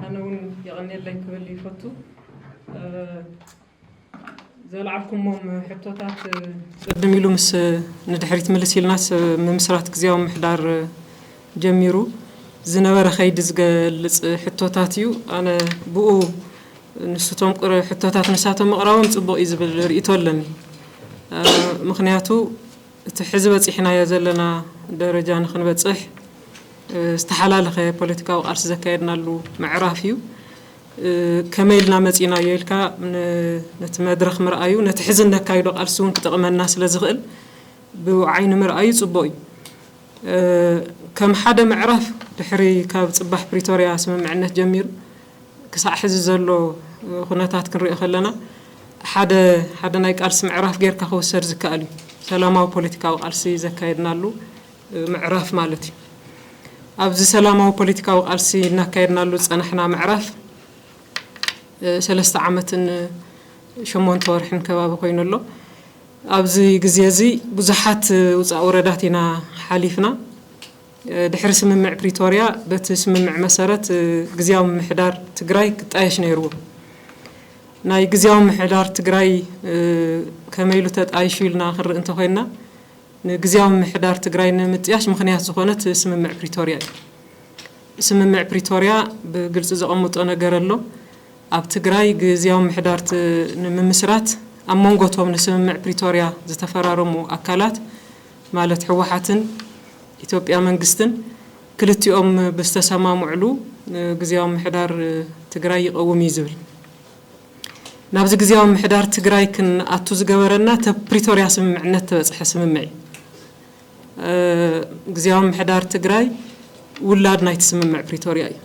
ኣነ እውን የቐንየለይ ክብል ይፈቱ ዘልዓልኩሞም ሕቶታት ቅድም ኢሉ ምስ ንድሕሪት ምልስ ኢልናስ ምምስራት ግዜያዊ ምሕዳር ጀሚሩ ዝነበረ ከይዲ ዝገልፅ ሕቶታት እዩ ኣነ ብኡ ንስቶም ቅረ ሕቶታት ንሳቶም ምቕራቦም ፅቡቕ እዩ ዝብል ርእቶ ኣለኒ ምክንያቱ እቲ ሕዚ በፂሕናዮ ዘለና ደረጃ ንክንበፅሕ ዝተሓላለኸ ፖለቲካዊ ቃልሲ ዘካየድናሉ ምዕራፍ እዩ። ከመይ ኢልና መፂእናዮ ኢልካ ነቲ መድረኽ ምርኣዩ ነቲ ሕዚ እነካይዶ ቃልሲ እውን ክጠቕመና ስለዝኽእል ብዓይኒ ምርኣዩ ፅቡቕ እዩ። ከም ሓደ ምዕራፍ ድሕሪ ካብ ፅባሕ ፕሪቶርያ ስምምዕነት ጀሚሩ ክሳዕ ሕዚ ዘሎ ኩነታት ክንሪኦ ከለና ሓደ ሓደ ናይ ቃልሲ ምዕራፍ ጌርካ ክውሰድ ዝከኣል እዩ። ሰላማዊ ፖለቲካዊ ቃልሲ ዘካየድናሉ ምዕራፍ ማለት እዩ። ኣብዚ ሰላማዊ ፖለቲካዊ ቃልሲ እናካየድናሉ ዝጸናሕና ምዕራፍ ሰለስተ ዓመትን ሸሞንተ ወርሕን ከባቢ ኮይኑ ኣሎ። ኣብዚ ግዜ እዚ ብዙሓት ውጻእ ወረዳት ኢና ሓሊፍና። ድሕሪ ስምምዕ ፕሪቶርያ በቲ ስምምዕ መሰረት ግዝያዊ ምምሕዳር ትግራይ ክጣየሽ ነይርዎ። ናይ ግዝያዊ ምምሕዳር ትግራይ ከመይ ኢሉ ተጣይሹ ኢልና ክንርኢ እንተኾይንና ንግዝያዊ ምምሕዳር ትግራይ ንምጥያሽ ምኽንያት ዝኾነ እቲ ስምምዕ ፕሪቶርያ እዩ። ስምምዕ ፕሪቶርያ ብግልፂ ዘቐምጦ ነገር ኣሎ። ኣብ ትግራይ ግዝያዊ ምምሕዳር ንምምስራት ኣብ መንጎ እቶም ንስምምዕ ፕሪቶርያ ዝተፈራረሙ ኣካላት ማለት ህወሓትን ኢትዮጵያ መንግስትን ክልቲኦም ብዝተሰማምዕሉ ግዝያዊ ምምሕዳር ትግራይ ይቐውም እዩ ዝብል። ናብዚ ግዝያዊ ምምሕዳር ትግራይ ክንኣቱ ዝገበረና እቲ ኣብ ፕሪቶርያ ስምምዕነት ተበፅሐ ስምምዕ እዩ። ግዝያዊ ምምሕዳር ትግራይ ውላድ ናይቲ ስምምዕ ፕሪቶርያ እዩ።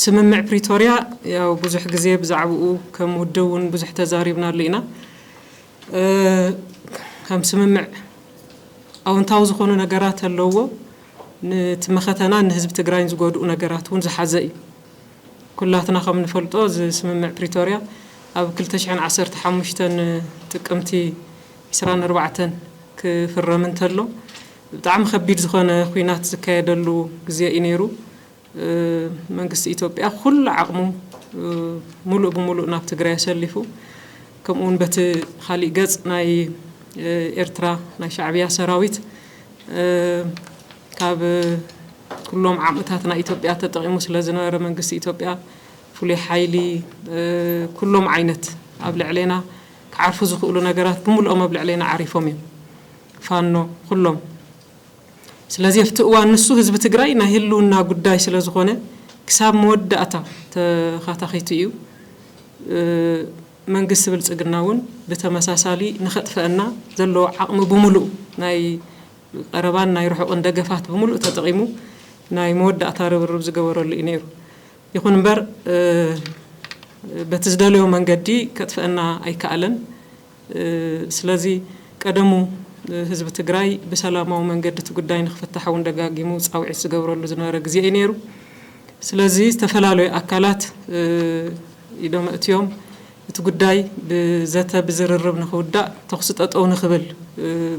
ስምምዕ ፕሪቶርያ ያው ብዙሕ ግዜ ብዛዕብኡ ከም ውድብ እውን ብዙሕ ተዛሪብናሉ ኢና። ከም ስምምዕ ኣውንታዊ ዝኾኑ ነገራት ኣለውዎ። ንቲ መኸተናን ንህዝቢ ትግራይን ዝጎድኡ ነገራት እውን ዝሓዘ እዩ። ኩላትና ከም ንፈልጦ እዚ ስምምዕ ፕሪቶርያ ኣብ ክልተ ሽሕን ዓሰርተ ሓሙሽተን ጥቅምቲ ዕስራን ኣርባዕተን ክፍረም እንተሎ ብጣዕሚ ከቢድ ዝኾነ ኹናት ዝካየደሉ ግዜ እዩ ነይሩ። መንግስቲ ኢትዮጵያ ኩሉ ዓቕሙ ሙሉእ ብሙሉእ ናብ ትግራይ ኣሸሊፉ ከምኡ ውን በቲ ኻሊእ ገፅ ናይ ኤርትራ ናይ ሻዕብያ ሰራዊት ካብ ኩሎም ዓቕምታት ናይ ኢትዮጵያ ተጠቒሙ ስለ ዝነበረ መንግስቲ ኢትዮጵያ ፍሉይ ሓይሊ ኩሎም ዓይነት ኣብ ልዕሌና ክዓርፉ ዝኽእሉ ነገራት ብሙሉኦም ኣብ ልዕሌና ዓሪፎም እዮም ፋኖ ኩሎም ስለዚ ኣብቲ እዋን ንሱ ህዝቢ ትግራይ ናይ ህልውና ጉዳይ ስለዝኾነ ክሳብ መወዳእታ ተኻታኺቱ እዩ። መንግስቲ ብልፅግና እውን ብተመሳሳሊ ንኸጥፈእና ዘለዎ ዓቕሚ ብሙሉእ ናይ ቐረባን ናይ ርሑቕን ደገፋት ብሙሉእ ተጠቒሙ ናይ መወዳእታ ርብርብ ዝገበረሉ እዩ ነይሩ። ይኹን እምበር በቲ ዝደለዮ መንገዲ ከጥፈእና ኣይከኣለን። ስለዚ ቀደሙ ህዝቢ ትግራይ ብሰላማዊ መንገዲ እቲ ጉዳይ ንክፍታሕ እውን ደጋጊሙ ፃውዒት ዝገብረሉ ዝነበረ ግዜ እዩ ነይሩ። ስለዚ ዝተፈላለዩ ኣካላት ኢዶም ኣእትዮም እቲ ጉዳይ ብዘተ ብዝርርብ ንክውዳእ ተኹሲ ጠጠው ንክብል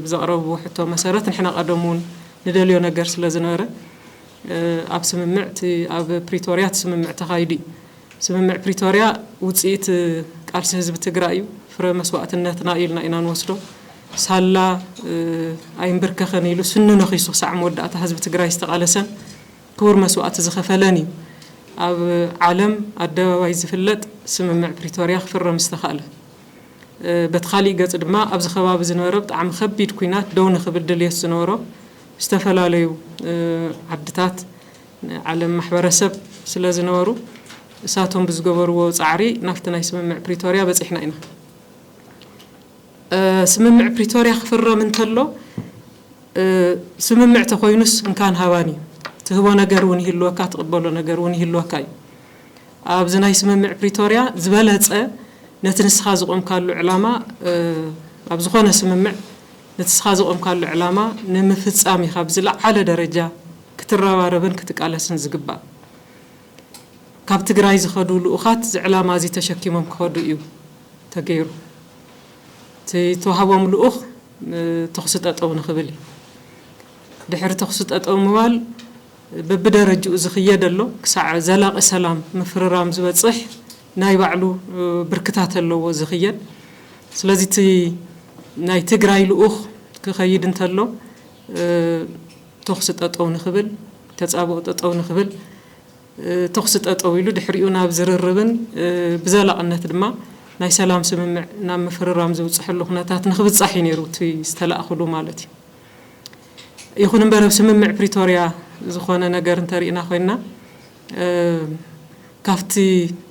ብዘቕረብዎ ሕቶ መሰረት ንሕና ቀደሙ እውን ንደልዮ ነገር ስለዝነበረ ኣብ ስምምዕ እቲ ኣብ ፕሪቶርያ እቲ ስምምዕ ተኻይዱ እዩ። ስምምዕ ፕሪቶርያ ውፅኢት ቃልሲ ህዝቢ ትግራይ እዩ፣ ፍረ መስዋእትነትና እዩ ኢልና ኢና ንወስዶ። ሳላ ኣይምብርከኽን ኢሉ ስኑ ነኺሱ ክሳዕ መወዳእታ ህዝቢ ትግራይ ዝተቓለሰን ክቡር መስዋእቲ ዝኸፈለን እዩ። ኣብ ዓለም ኣደባባይ ዝፍለጥ ስምምዕ ፕሪቶርያ ክፍረም ዝተኻእለ። በቲ ካሊእ ገፅ ድማ ኣብዚ ከባቢ ዝነበረ ብጣዕሚ ከቢድ ኲናት ደው ንክብል ድልየት ዝነበሮም ዝተፈላለዩ ዓድታት ዓለም ማሕበረሰብ ስለ ዝነበሩ እሳቶም ብዝገበርዎ ፃዕሪ ናብቲ ናይ ስምምዕ ፕሪቶርያ በፂሕና ኢና። ስምምዕ ፕሪቶርያ ክፍረም እንተሎ ስምምዕ ተኾይኑስ እንካን ሃባን እዩ። ትህቦ ነገር እውን ይህልወካ ትቕበሎ ነገር እውን ይህልወካ እዩ። ኣብዚ ናይ ስምምዕ ፕሪቶርያ ዝበለፀ ነቲ ንስኻ ዝቖምካሉ ዕላማ ኣብ ዝኾነ ስምምዕ ንትስኻ ዝቖምካሉ ዕላማ ንምፍፃም ኢኻ ብዝለዓለ ደረጃ ክትረባረብን ክትቃለስን ዝግባእ። ካብ ትግራይ ዝኸዱ ልኡኻት እዚ ዕላማ እዚ ተሸኪሞም ክኸዱ እዩ ተገይሩ። እቲ ዝተውሃቦም ልኡኽ ተኹሲ ጠጠው ንክብል እዩ። ድሕሪ ተኹሲ ጠጠው ምባል በብደረጅኡ ዝኽየድ ኣሎ። ክሳዕ ዘላቒ ሰላም ምፍርራም ዝበፅሕ ናይ ባዕሉ ብርክታት ኣለዎ ዝኽየድ። ስለዚ እቲ ናይ ትግራይ ልኡኽ ክኸይድ እንተሎ፣ ተኹሲ ጠጠው ንክብል፣ ተፃብኦ ጠጠው ንክብል፣ ተኹሲ ጠጠው ኢሉ ድሕሪኡ ናብ ዝርርብን ብዘላቕነት ድማ ናይ ሰላም ስምምዕ ናብ ምፍርራም ዝብፀሐሉ ኩነታት ንክብፃሕ እዩ ነይሩ እቲ ዝተላእኽሉ ማለት እዩ። ይኹን እምበር ኣብ ስምምዕ ፕሪቶርያ ዝኾነ ነገር እንተሪእና ኮይንና ካፍቲ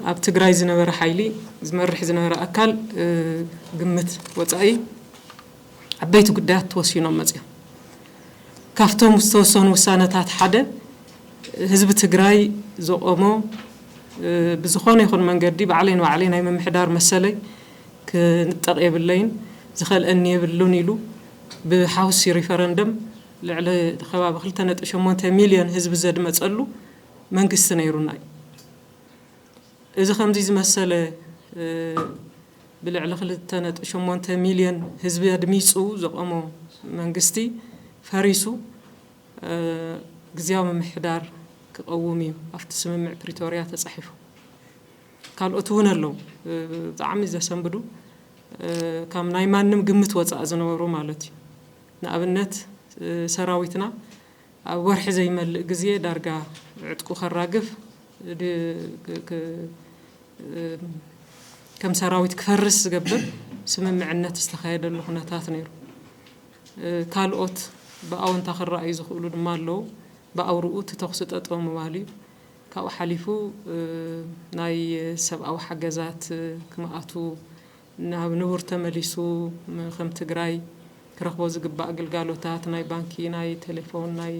ኣብ ትግራይ ዝነበረ ሓይሊ ዝመርሕ ዝነበረ ኣካል ግምት ወፃኢ፣ ዓበይቲ ጉዳያት ተወሲኖም መፅዮም። ካፍቶም ዝተወሰኑ ውሳነታት ሓደ ህዝቢ ትግራይ ዘቖሞ ብዝኾነ ይኹን መንገዲ ባዕለይ ንባዕለይ ናይ ምምሕዳር መሰለይ ክንጠቕ የብለይን ዝኸልእኒ የብሉን ኢሉ ብሓውሲ ሪፈረንደም ልዕሊ ከባቢ ክልተ ነጥቢ ሸሞንተ ሚልዮን ህዝቢ ዘድመፀሉ መንግስቲ ነይሩና እዩ። እዚ ከምዙይ ዝመሰለ ብልዕሊ ክልተ ነጥቢ ሸሞንተ ሚልዮን ህዝቢ ኣድሚጹ ዘቖሞ መንግስቲ ፈሪሱ ግዝያዊ ምምሕዳር ክቐውም እዩ ኣብቲ ስምምዕ ፕሪቶርያ ተጻሒፉ። ካልኦት እውን ኣለዉ ብጣዕሚ ዘሰንብዱ ካብ ናይ ማንም ግምት ወጻእ ዝነበሩ ማለት እዩ። ንኣብነት ሰራዊትና ኣብ ወርሒ ዘይመልእ ግዜ ዳርጋ ዕጥቁ ከራግፍ ከም ሰራዊት ክፈርስ ዝገብር ስምምዕነት ዝተኻየደሉ ኩነታት ነይሩ። ካልኦት ብኣወንታ ክረኣዩ ዝኽእሉ ድማ ኣለዉ። ብኣውርኡ እቲ ተኹሲ ጠጠው ምባል እዩ። ካብኡ ሓሊፉ ናይ ሰብኣዊ ሓገዛት ክምኣቱ ናብ ንቡር ተመሊሱ ከም ትግራይ ክረኽቦ ዝግባእ ግልጋሎታት ናይ ባንኪ፣ ናይ ቴሌፎን፣ ናይ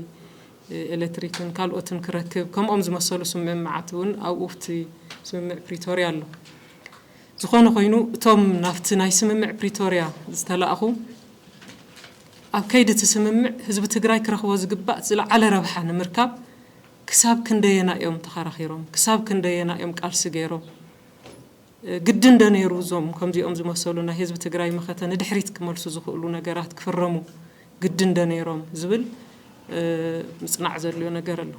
ኤሌክትሪክን ካልኦትን ክረክብ ከምኦም ዝመሰሉ ስምምዓት እውን ኣብኡ ኣብቲ ስምምዕ ፕሪቶርያ ኣሎ። ዝኾነ ኮይኑ እቶም ናብቲ ናይ ስምምዕ ፕሪቶርያ ዝተላእኹ ኣብ ከይዲ እቲ ስምምዕ ህዝቢ ትግራይ ክረኽቦ ዝግባእ ዝለዓለ ረብሓ ንምርካብ ክሳብ ክንደየናይ እዮም ተኸራኺሮም? ክሳብ ክንደየናይ እዮም ቃልሲ ገይሮም? ግድን ዶ ነይሩ እዞም ከምዚኦም ዝመሰሉ ናይ ህዝቢ ትግራይ መኸተ ንድሕሪት ክመልሱ ዝኽእሉ ነገራት ክፍረሙ ግድን ዶ ነይሮም ዝብል ምፅናዕ ዘድልዮ ነገር ኣሎ።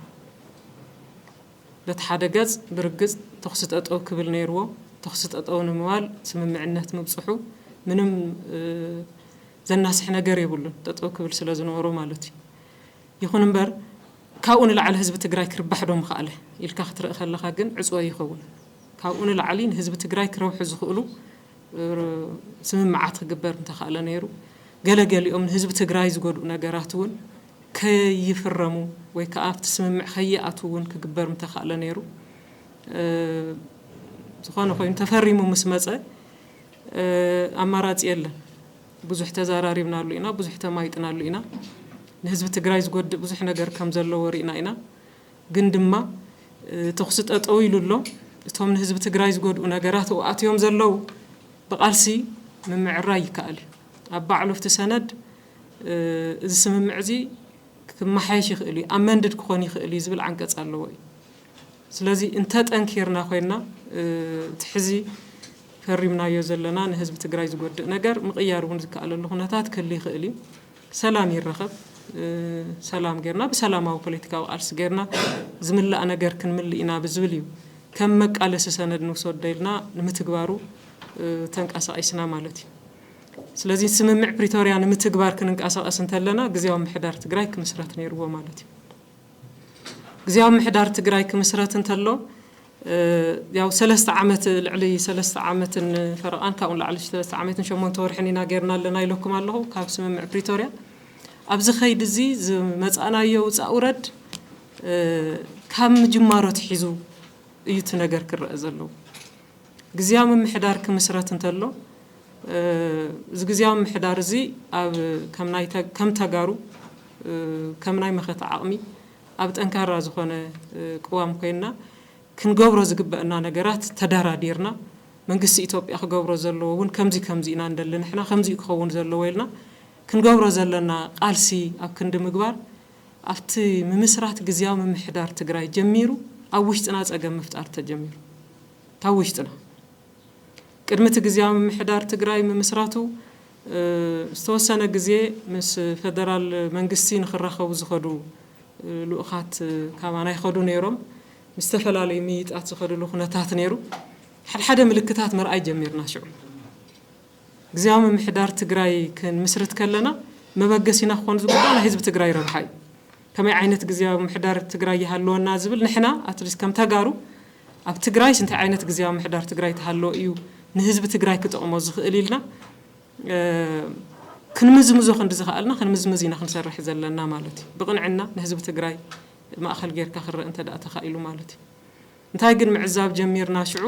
በቲ ሓደ ገፅ ብርግፅ ተኹሲ ጠጠው ክብል ነይርዎ። ተኹሲ ጠጠው ንምባል ስምምዕነት ምብፅሑ ምንም ዘናስሕ ነገር የብሉን፣ ጠጠው ክብል ስለዝነበሮ ማለት እዩ። ይኹን እምበር ካብኡ ንላዕሊ ህዝቢ ትግራይ ክርባሕ ዶ ምኸኣለ ኢልካ ክትርኢ ከለኻ ግን ዕፅወ ይኸውን። ካብኡ ንላዕሊ ንህዝቢ ትግራይ ክረብሑ ዝኽእሉ ስምምዓት ክግበር ምተኻእለ ነይሩ። ገለ ገሊኦም ንህዝቢ ትግራይ ዝጎድኡ ነገራት እውን ከይፍረሙ ወይ ከዓ ኣብቲ ስምምዕ ከይኣትዉ እውን ክግበር ምተኻእለ ነይሩ። ዝኾነ ኾይኑ ተፈሪሙ ምስ መፀ ኣማራፂ የለን። ብዙሕ ተዛራሪብናሉ ኢና፣ ብዙሕ ተማይጥናሉ ኢና፣ ንህዝቢ ትግራይ ዝጎድእ ብዙሕ ነገር ከም ዘለዎ ሪእና ኢና፣ ግን ድማ ተኹሲ ጠጠው ኢሉ ኣሎ፣ እቶም ንህዝቢ ትግራይ ዝጎድኡ ነገራት ኣብኡ ኣትዮም ዘለው ብቓልሲ ምምዕራይ ይከኣል እዩ፣ ኣብ ባዕሉ ኣብቲ ሰነድ እዚ ስምምዕ እዚ ክመሓየሽ ይኽእል እዩ፣ ኣመንድድ ክኾን ይኽእል እዩ ዝብል ዓንቀፅ ኣለዎ እዩ። ስለዚ እንተ ጠንኪርና ኮይና እቲ ሕዚ ፈሪምናዮ ዘለና ንህዝቢ ትግራይ ዝጎድእ ነገር ምቕያር እውን ዝከኣለሉ ኩነታት ክህሉ ይኽእል እዩ። ሰላም ይረኸብ ሰላም ጌርና ብሰላማዊ ፖለቲካዊ ቃልሲ ጌርና ዝምላእ ነገር ክንምልእ ኢና ብዝብል እዩ ከም መቃለሲ ሰነድ ንውሰዶ ኢልና ንምትግባሩ ተንቀሳቒስና ማለት እዩ። ስለዚ ስምምዕ ፕሪቶርያ ንምትግባር ክንንቀሳቐስ እንተለና ግዝያዊ ምምሕዳር ትግራይ ክምስረት ነይርዎ ማለት እዩ። ግዝያዊ ምሕዳር ትግራይ ክምስረት እንተሎ ያው ሰለስተ ዓመት ልዕሊ ሰለስተ ዓመትን ፈረቓን ካብኡ ንላዕሊ ሰለስተ ዓመትን ሸሞንተ ወርሕን ኢና ጌርና ኣለና ኢለኩም ኣለኹ ካብ ስምምዕ ፕሪቶርያ ኣብዚ ከይዲ እዚ ዝመፃእናዮ ውፃእ ውረድ ካብ ምጅማሮ ትሒዙ እዩ እቲ ነገር ክረአ ዘለዎ። ግዝያዊ ምምሕዳር ክምስረት እንተሎ እዚ ግዝያዊ ምምሕዳር እዚ ኣብ ከም ተጋሩ ከም ናይ መኸተ ዓቕሚ ኣብ ጠንካራ ዝኾነ ቅዋም ኮይንና ክንገብሮ ዝግበእና ነገራት ተዳራዲርና መንግስቲ ኢትዮጵያ ክገብሮ ዘለዎ እውን ከምዚ ከምዚ ኢና ንደሊ ንሕና ከምዚ እዩ ክኸውን ዘለዎ ኢልና ክንገብሮ ዘለና ቃልሲ ኣብ ክንዲ ምግባር ኣብቲ ምምስራት ግዝያዊ ምምሕዳር ትግራይ ጀሚሩ ኣብ ውሽጥና ፀገም ምፍጣር ተጀሚሩ። ካብ ውሽጥና ቅድሚ እቲ ግዝያዊ ምምሕዳር ትግራይ ምምስራቱ ዝተወሰነ ግዜ ምስ ፈደራል መንግስቲ ንክራኸቡ ዝኸዱ ልኡኻት ካባና ይኸዱ ነይሮም። ምስ ዝተፈላለዩ ምይይጣት ዝኸድሉ ኩነታት ነይሩ። ሓድሓደ ምልክታት ምርኣይ ጀሚርና ሽዑ። ግዝያዊ ምምሕዳር ትግራይ ክንምስርት ከለና መበገሲና ክኾን ዝግብኦ ናይ ህዝቢ ትግራይ ረብሓ እዩ። ከመይ ዓይነት ግዝያዊ ምምሕዳር ትግራይ ይሃልወና ዝብል ንሕና ኣትሊስት ከም ተጋሩ ኣብ ትግራይስ እንታይ ዓይነት ግዝያዊ ምምሕዳር ትግራይ ትሃልዎ እዩ ንህዝቢ ትግራይ ክጠቕሞ ዝኽእል ኢልና ክንምዝምዞ ክንዲ ዝኸኣልና ክንምዝምዝ ኢና ክንሰርሕ ዘለና ማለት እዩ። ብቕንዕና ንህዝቢ ትግራይ ማእኸል ጌርካ ክረእ እንተድኣ ተኻኢሉ ማለት እዩ። እንታይ ግን ምዕዛብ ጀሚርና ሽዑ፣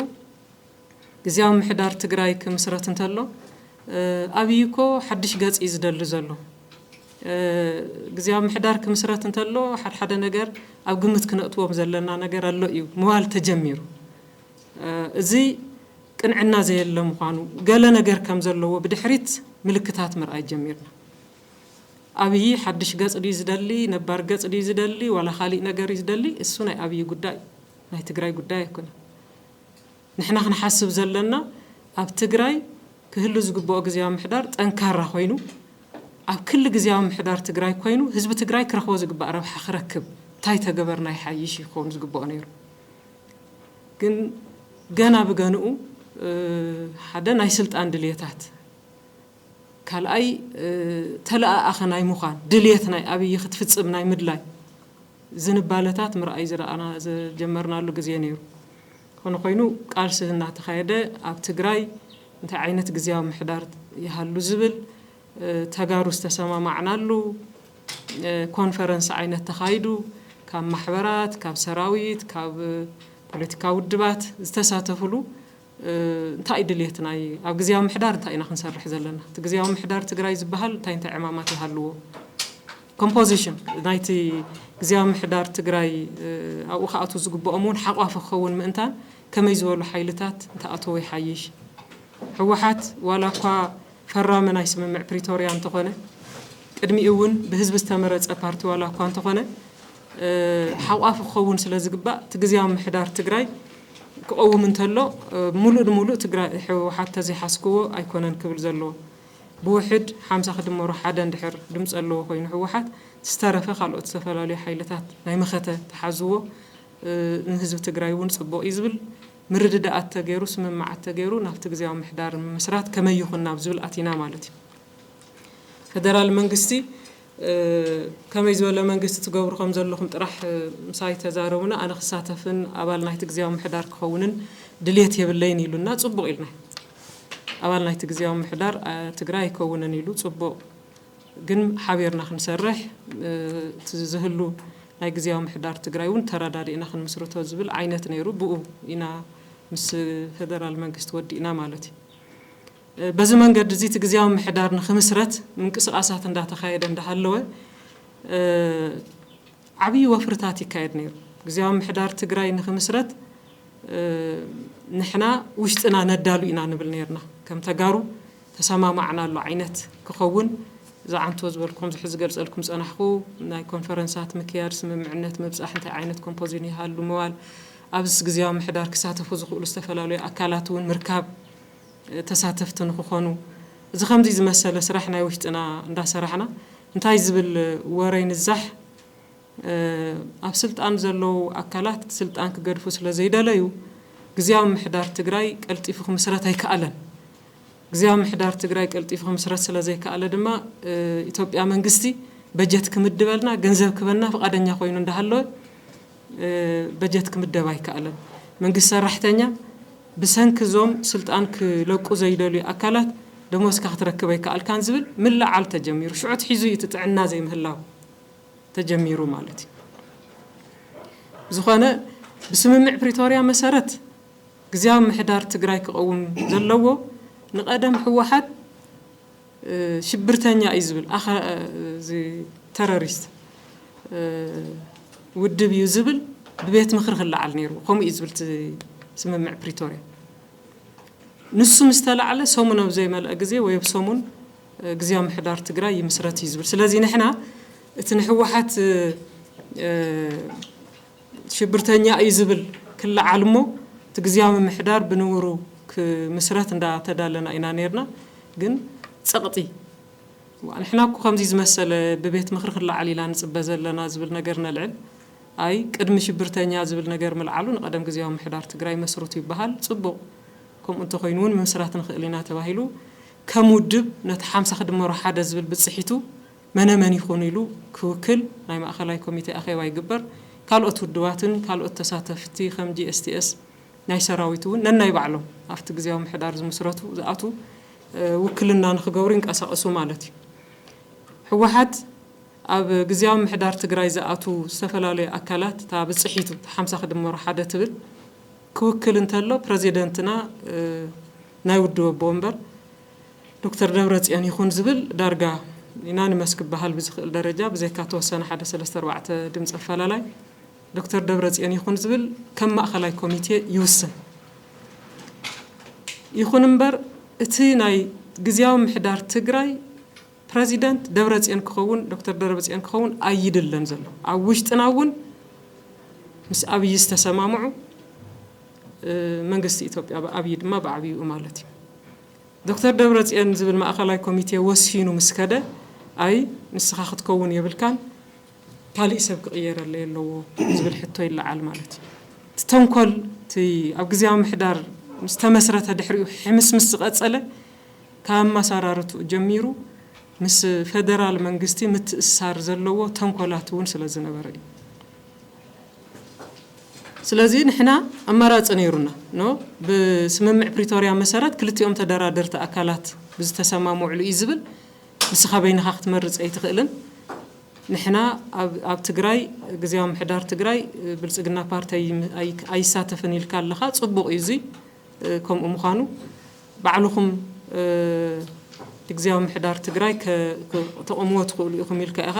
ግዝያዊ ምምሕዳር ትግራይ ክምስረት እንተሎ ኣብይ እኮ ሓድሽ ገፅ እዩ ዝደሊ ዘሎ። ግዝያዊ ምምሕዳር ክምስረት እንተሎ ሓድሓደ ነገር ኣብ ግምት ክነእትዎም ዘለና ነገር ኣሎ እዩ ምባል ተጀሚሩ። እዚ ቅንዕና ዘየለ ምዃኑ ገለ ነገር ከም ዘለዎ ብድሕሪት ምልክታት ምርኣይ ጀሚርና። ኣብይ ሓድሽ ገፅ ድዩ ዝደሊ ነባር ገፅ ድዩ ዝደሊ ዋላ ካሊእ ነገር እዩ ዝደሊ እሱ ናይ ኣብይ ጉዳይ እዩ ናይ ትግራይ ጉዳይ ኣይኮነን። ንሕና ክንሓስብ ዘለና ኣብ ትግራይ ክህሉ ዝግበኦ ግዝያዊ ምሕዳር ጠንካራ ኮይኑ ኣብ ክሊ ግዝያዊ ምሕዳር ትግራይ ኮይኑ ህዝቢ ትግራይ ክረኽቦ ዝግባእ ረብሓ ክረክብ እንታይ ተገበርና ይሓይሽ እዩ ክኸውን ዝግበኦ ነይሩ ግን ገና ብገንኡ ሓደ ናይ ስልጣን ድልየታት ካልኣይ ተለኣኣኺ ናይ ምዃን ድልየት ናይ ኣብይ ክትፍፅም ናይ ምድላይ ዝንባለታት ምርኣይ ዝረኣና ዝጀመርናሉ ግዜ ነይሩ። ዝኾነ ኾይኑ ቃልሲ እናተኻየደ ኣብ ትግራይ እንታይ ዓይነት ግዝያዊ ምምሕዳር ይሃሉ ዝብል ተጋሩ ዝተሰማማዕናሉ ኮንፈረንስ ዓይነት ተኻይዱ ካብ ማሕበራት፣ ካብ ሰራዊት፣ ካብ ፖለቲካ ውድባት ዝተሳተፍሉ እንታይ እዩ ድልየት ናይ ኣብ ግዝያዊ ምሕዳር እንታይ ኢና ክንሰርሕ ዘለና? እቲ ግዝያዊ ምሕዳር ትግራይ ዝበሃል እንታይ እንታይ ዕማማት ይሃልዎ? ኮምፖዚሽን ናይቲ ግዝያዊ ምሕዳር ትግራይ ኣብኡ ክኣትዉ ዝግበኦም እውን ሓቋፊ ክኸውን ምእንታን ከመይ ዝበሉ ሓይልታት እንተኣተወ ይሓይሽ? ህወሓት ዋላ እኳ ፈራሚ ናይ ስምምዕ ፕሪቶርያ እንተኾነ ቅድሚኡ እውን ብህዝቢ ዝተመረፀ ፓርቲ ዋላ እኳ እንተኾነ ሓቋፊ ክኸውን ስለዝግባእ እቲ ግዝያዊ ምሕዳር ትግራይ ክቐውም እንተሎ ሙሉእ ንሙሉእ ትግራይ ሕወሓት ተዘይሓዝክዎ ኣይኮነን ክብል ዘለዎ። ብውሕድ ሓምሳ ክድመሩ ሓደ እንድሕር ድምፂ ዘለዎ ኮይኑ ሕወሓት ዝተረፈ ካልኦት ዝተፈላለዩ ሓይልታት ናይ መኸተ ተሓዝዎ ንህዝቢ ትግራይ እውን ፅቡቕ እዩ ዝብል ምርድዳኣት ተገይሩ ስምምዓት ተገይሩ ናብቲ ግዝያዊ ምሕዳር ንምምስራት ከመይ ይኹን ናብ ዝብል ኣቲና ማለት እዩ። ፈደራል መንግስቲ ከመይ ዝበለ መንግስቲ ትገብሩ ከም ዘለኹም ጥራሕ ምሳይ ተዛረቡና፣ ኣነ ክሳተፍን ኣባል ናይቲ ግዝያዊ ምሕዳር ክኸውንን ድልየት የብለይን ኢሉ እና ፅቡቕ ኢልና። ኣባል ናይቲ ግዝያዊ ምሕዳር ትግራይ ኣይከውንን ኢሉ ፅቡቕ ግን ሓቢርና ክንሰርሕ እቲ ዝህሉ ናይ ግዝያዊ ምሕዳር ትግራይ እውን ተረዳዲእና ክንምስርቶ ዝብል ዓይነት ነይሩ ብኡ ኢና ምስ ፌደራል መንግስቲ ወዲእና ማለት እዩ። በዚ መንገዲ እዚ እቲ ግዝያዊ ምምሕዳር ንክምስረት ምንቅስቓሳት እንዳተኻየደ እንዳሃለወ ዓብዪ ወፍርታት ይካየድ ነይሩ። ግዝያዊ ምምሕዳር ትግራይ ንክምስረት ንሕና ውሽጥና ነዳሉ ኢና ንብል ነይርና። ከም ተጋሩ ተሰማማዕናሉ ዓይነት ክኸውን ዝዓንቶ ዝበልኩ ከምዚ ሕዚ ዝገልፀልኩም ዝፀናሕኹ ናይ ኮንፈረንሳት ምክያድ፣ ስምምዕነት ምብፃሕ፣ እንታይ ዓይነት ኮምፖዚን ይሃሉ ምባል፣ ኣብዚስ ግዝያዊ ምምሕዳር ክሳተፉ ዝኽእሉ ዝተፈላለዩ ኣካላት እውን ምርካብ፣ ተሳተፍቲ ንክኾኑ እዚ ከምዚ ዝመሰለ ስራሕ ናይ ውሽጥና እንዳሰራሕና እንታይ ዝብል ወረ ይንዛሕ ኣብ ስልጣን ዘለዉ ኣካላት ስልጣን ክገድፉ ስለዘይደለዩ ግዝያዊ ምምሕዳር ትግራይ ቀልጢፉ ክምስረት ኣይከኣለን። ግዝያዊ ምምሕዳር ትግራይ ቀልጢፉ ክምስረት ስለዘይከኣለ ድማ ኢትዮጵያ መንግስቲ በጀት ክምድበልና ገንዘብ ክበና ፍቓደኛ ኮይኑ እንዳሃለወ በጀት ክምደብ ኣይከኣለን። መንግስቲ ሰራሕተኛ ብሰንኪ እዞም ስልጣን ክለቁ ዘይደልዩ ኣካላት ደሞዝካ ክትረክብ ኣይከኣልካን ዝብል ምልዕዓል ተጀሚሩ። ሽዑ ኣትሒዙ እዩ እቲ ጥዕና ዘይምህላው ተጀሚሩ ማለት እዩ። ብዝኾነ ብስምምዕ ፕሪቶርያ መሰረት ግዝያዊ ምምሕዳር ትግራይ ክቐውም ዘለዎ ንቐደም ህወሓት፣ ሽብርተኛ እዩ ዝብል ኣኸ እዚ ተረሪስት ውድብ እዩ ዝብል ብቤት ምኽሪ ክለዓል ነይርዎ ከምኡ እዩ ዝብል እቲ ስምምዕ ፕሪቶርያ ንሱ ምስ ተላዕለ ሰሙን ኣብ ዘይመልአ ግዜ ወይ ኣብ ሰሙን ግዜያዊ ምሕዳር ትግራይ ይምስረት እዩ ዝብል ስለዚ ንሕና እቲ ንሕወሓት ሽብርተኛ እዩ ዝብል ክለዓል እሞ እቲ ግዝያዊ ምምሕዳር ብንቡሩ ክምስረት እንዳ ተዳለና ኢና ኔርና ግን ጸቕጢ ዋእ ንሕና እኮ ከምዚ ዝመሰለ ብቤት ምኽሪ ክለዓል ኢና ንጽበ ዘለና ዝብል ነገር ነልዕል ኣይ ቅድሚ ሽብርተኛ ዝብል ነገር ምልዓሉ ንቀደም ግዝያዊ ምምሕዳር ትግራይ መስርቱ ይበሃል ጽቡቕ ከምኡ እንተኾይኑ እውን ምምስራት ንኽእል ኢና ተባሂሉ ከም ውድብ ነቲ ሓምሳ ክድመሩ ሓደ ዝብል ብጽሒቱ መነመን ይኹን ኢሉ ክውክል ናይ ማእኸላይ ኮሚቴ ኣኼባ ይግበር። ካልኦት ውድባትን ካልኦት ተሳተፍቲ ከም GSTS ናይ ሰራዊት እውን ነናይ ባዕሎም ኣብቲ ግዝያዊ ምሕዳር ዝምስረቱ ዝኣትዉ ውክልና ንክገብሩ ይንቀሳቐሱ ማለት እዩ። ህወሓት ኣብ ግዝያዊ ምሕዳር ትግራይ ዝኣትዉ ዝተፈላለዩ ኣካላት እታ ብፅሒቱ እታ ሓምሳ ክድመሩ ሓደ ትብል ክውክል እንተሎ ፕረዚደንትና ናይ ውድብ ኣቦ ወንበር ዶክተር ደብረፅዮን ይኹን ዝብል ዳርጋ ዩናኒመስ ክበሃል ብዝኽእል ደረጃ ብዘይካ ተወሰነ ሓደ ሰለስተ ኣርባዕተ ድምፂ ኣፈላላይ ዶክተር ደብረፅዮን ይኹን ዝብል ከም ማእኸላይ ኮሚቴ ይውስን። ይኹን እምበር እቲ ናይ ግዝያዊ ምሕዳር ትግራይ ፕረዚደንት ደብረፅዮን ክኸውን ዶክተር ደብረፅዮን ክኸውን ኣይድለን ዘሎ። ኣብ ውሽጥና እውን ምስ ኣብዪ ዝተሰማምዑ መንግስቲ ኢትዮጵያ ብኣብዪ ድማ ብዓብይኡ ማለት እዩ ዶክተር ደብረፅዮን ዝብል ማእኸላይ ኮሚቴ ወሲኑ ምስ ከደ ኣይ ንስኻ ክትከውን የብልካን ካሊእ ሰብ ክቕየረለይ ኣለዎ ዝብል ሕቶ ይለዓል ማለት እዩ። እቲ ተንኮል እቲ ኣብ ግዝያዊ ምሕዳር ምስ ተመስረተ ድሕሪኡ ሕምስምስ ዝቐፀለ ካብ ኣመሰራርትኡ ጀሚሩ ምስ ፈደራል መንግስቲ ምትእስሳር ዘለዎ ተንኮላት እውን ስለ ዝነበረ እዩ። ስለዚ ንሕና ኣማራፂ ነይሩና ን ብስምምዕ ፕሪቶርያ መሰረት ክልቲኦም ተደራደርቲ ኣካላት ብዝተሰማምዕሉ እዩ ዝብል ንስኻ በይንኻ ክትመርፅ ኣይትኽእልን ንሕና ኣብ ትግራይ ግዝያዊ ምሕዳር ትግራይ ብልፅግና ፓርቲ ኣይሳተፍን ኢልካ ኣለኻ ፅቡቕ እዩ እዙይ ከምኡ ምዃኑ ባዕልኹም ግዝያዊ ምሕዳር ትግራይ ከተቑምዎ ትኽእሉ ኢኹም ኢልካ ኢኻ።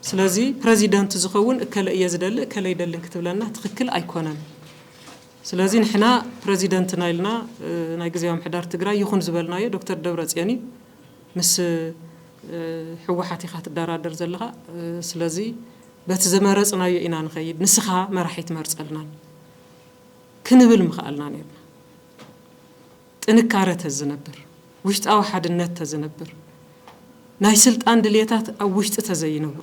ስለዚ ፕረዚደንት ዝኸውን እከለ እየ ዝደሊ እከለ ኣይደልን ክትብለና ትኽክል ኣይኮነን። ስለዚ ንሕና ፕረዚደንትና ኢልና ናይ ግዝያዊ ምሕዳር ትግራይ ይኹን ዝበልናዮ ዶክተር ደብረፅዮን እዩ። ምስ ህወሓት ኢኻ ትደራደር ዘለኻ። ስለዚ በቲ ዝመረፅናዮ ኢና ንኸይድ። ንስኻ መራሒ ኣይትመርፀልናን። ክንብል ምኸኣልና ኔርና። ጥንካረ ተዝነብር፣ ውሽጣዊ ሓድነት ተዝነብር፣ ናይ ስልጣን ድልየታት ኣብ ውሽጢ ተዘይነብሩ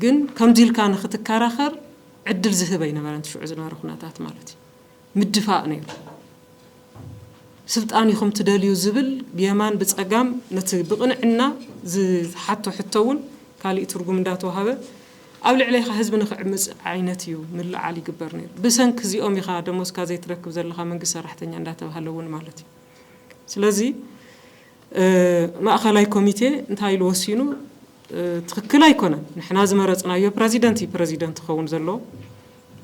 ግን ከምዚ ኢልካ ንኽትከራኸር ዕድል ዝህብ ኣይነበረን እቲ ሽዑ ዝነበረ ኩነታት ማለት እዩ። ምድፋእ ነይሩ። ስልጣን ኢኹም ትደልዩ ዝብል ብየማን ብጸጋም ነቲ ብቕንዕና ዝሓቶ ሕቶ እውን ካሊእ ትርጉም እንዳተዋሃበ ኣብ ልዕሌኻ ህዝቢ ንኽዕምጽ ዓይነት እዩ ምልዕዓል ይግበር ነይሩ። ብሰንኪ እዚኦም ኢኻ ደሞዝካ ዘይትረክብ ዘለኻ መንግስቲ ሰራሕተኛ እንዳተባህለ እውን ማለት እዩ። ስለዚ ማእኸላይ ኮሚቴ እንታይ ኢሉ ወሲኑ ትኽክል ኣይኮነን። ንሕና ዝመረጽናዮ ፕረዚደንት እዩ ፕረዚደንት ዝኸውን ዘለዎ።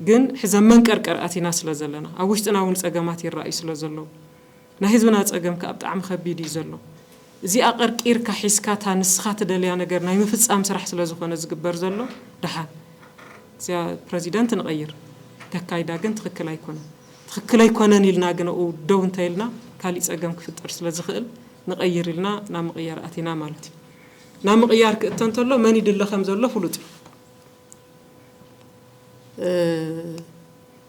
ግን ሕዚ ኣብ መንቀርቀር ኣቲና ስለዘለና ኣብ ውሽጥና እውን ፀገማት ይረኣዩ ስለዘለዉ፣ ናይ ህዝብና ጸገም ክኣ ብጣዕሚ ከቢድ ኢዩ ዘሎ። እዚ ኣቐርቂርካ ሒዝካ እታ ንስኻ ትደልያ ነገር ናይ ምፍጻም ስራሕ ስለ ዝኾነ ዝግበር ዘሎ ድሓን እዚኣ ፕረዚደንት ንቐይር ተካይዳ ግን ትኽክል ኣይኮነን። ትኽክል ኣይኮነን ኢልና ግን ኣብኡ ደው እንተኢልና ካሊእ ጸገም ክፍጠር ስለ ዝኽእል ንቐይር ኢልና ናብ ምቕያር ኣቲና ማለት ኢዩ። ናብ ምቕያር ክእተ እንተሎ መን ይድለ ከም ዘሎ ፍሉጥ ኢዩ።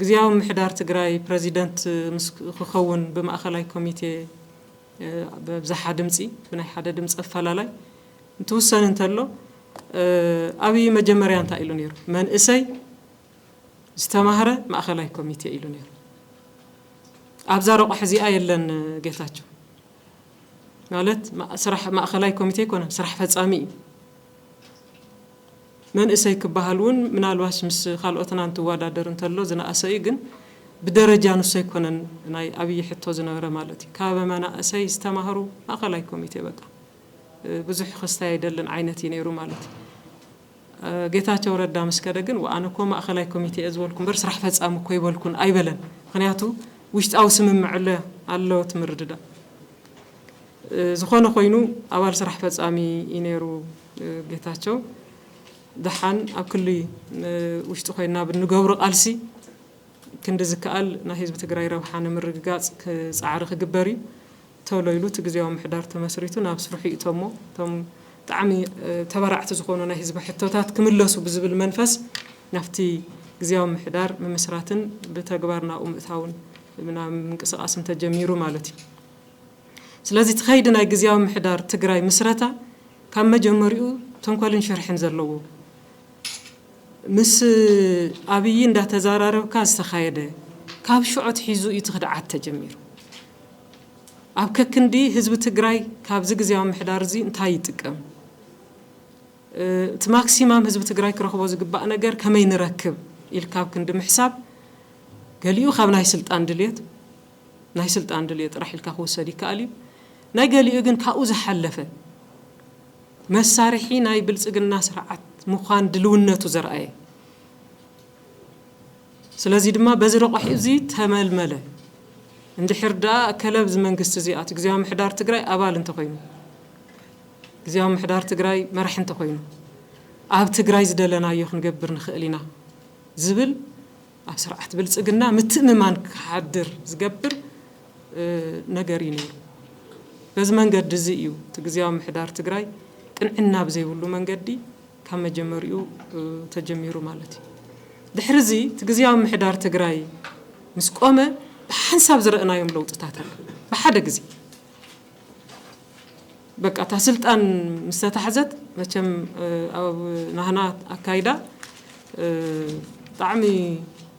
ግዝያዊ ምምሕዳር ትግራይ ፕረዚደንት ምስ ክኸውን ብማእኸላይ ኮሚቴ ብኣብዝሓ ድምፂ ብናይ ሓደ ድምፂ ኣፈላላይ እንትውሰን እንተሎ ኣብይ መጀመርያ እንታይ ኢሉ ነይሩ? መንእሰይ ዝተማህረ ማእኸላይ ኮሚቴ ኢሉ ነይሩ። ኣብዛ ረቋሒ እዚኣ የለን ጌታቸው ማለት ስራሕ ማእኸላይ ኮሚቴ ኣይኮነን ስራሕ ፈፃሚ እዩ። መንእሰይ ክበሃል ውን ምናልባሽ ምስ ካልኦትና እንትወዳደር እንተሎ ዝነኣሰ እዩ ግን ብደረጃ ንሱ ኣይኮነን ናይ ኣብይ ሕቶ ዝነበረ ማለት እዩ ካበ መናእሰይ ዝተማህሩ ማእኸላይ ኮሚቴ በቃ ብዙሕ ኽስታይ ኣይደልን ዓይነት እዩ ነይሩ ማለት እዩ ጌታቸው ረዳ ምስ ከደ ግን ዋእ ኣነኮ ማእኸላይ ኮሚቴ እየ ዝበልኩ እምበር ስራሕ ፈፃሚ እኮ ኣይበልኩን ኣይበለን ምኽንያቱ ውሽጣዊ ስምምዕ ኣሎ ትምርድዳእ። ዝኾነ ኮይኑ ኣባል ስራሕ ፈፃሚ እዩ ነይሩ ጌታቸው። ደሓን ኣብ ክሊ ውሽጢ ኮይና ብንገብሮ ቃልሲ ክንዲ ዝከኣል ናይ ህዝቢ ትግራይ ረብሓ ንምርግጋፅ ፃዕሪ ክግበር እዩ ቶሎ ኢሉ እቲ ግዝያዊ ምምሕዳር ተመስሪቱ ናብ ስርሑ ይእቶሞ እቶም ብጣዕሚ ተበራዕቲ ዝኾኑ ናይ ህዝቢ ሕቶታት ክምለሱ ብዝብል መንፈስ ናብቲ ግዝያዊ ምምሕዳር ምምስራትን ብተግባር ናብኡ ምእታውን ምንቅስቓስ እንተጀሚሩ ማለት እዩ። ስለዚ እቲ ከይዲ ናይ ግዝያዊ ምሕዳር ትግራይ ምስረታ ካብ መጀመሪኡ ተንኮልን ሽርሕን ዘለዎ ምስ ኣብይ እንዳተዛራረብካ ዝተኻየደ ካብ ሽዑ ኣትሒዙ እዩ እቲ ክድዓት ተጀሚሩ። ኣብ ከክንዲ ህዝቢ ትግራይ ካብዚ ግዝያዊ ምሕዳር እዚ እንታይ ይጥቀም? እቲ ማክሲማም ህዝቢ ትግራይ ክረኽቦ ዝግባእ ነገር ከመይ ንረክብ ኢልካ ኣብ ክንዲ ምሕሳብ ገሊኡ ካብ ናይ ስልጣን ድልየት፣ ናይ ስልጣን ድልዮ ጥራሕ ኢልካ ክውሰድ ይከኣል እዩ። ናይ ገሊኡ ግን ካብኡ ዝሓለፈ መሳርሒ ናይ ብልፅግና ስርዓት ምዃን ድልውነቱ ዘርኣየ ስለዚ ድማ በዚ ረቋሒ እዚ ተመልመለ። እንድሕር ደኣ እከለ ኣብዚ መንግስቲ እዚ ኣትዩ ግዜያዊ ምሕዳር ትግራይ ኣባል እንተኾይኑ፣ ግዜያዊ ምሕዳር ትግራይ መራሒ እንተኾይኑ ኣብ ትግራይ ዝደለናዮ ክንገብር ንኽእል ኢና ዝብል ኣብ ስርዓት ብልፅግና ምትእምማን ክሓድር ዝገብር ነገር እዩ ነይሩ። በዚ መንገዲ እዚ እዩ እቲ ግዝያዊ ምምሕዳር ትግራይ ቅንዕና ብዘይብሉ መንገዲ ካብ መጀመሪኡ ተጀሚሩ ማለት እዩ። ድሕሪ እዚ እቲ ግዝያዊ ምምሕዳር ትግራይ ምስ ቆመ ብሓንሳብ ዝረእናዮም ለውጥታት ኣለው ብሓደ ግዜ በቃ እታ ስልጣን ምስ ተታሕዘት መቸም ኣብ ናህና ኣካይዳ ብጣዕሚ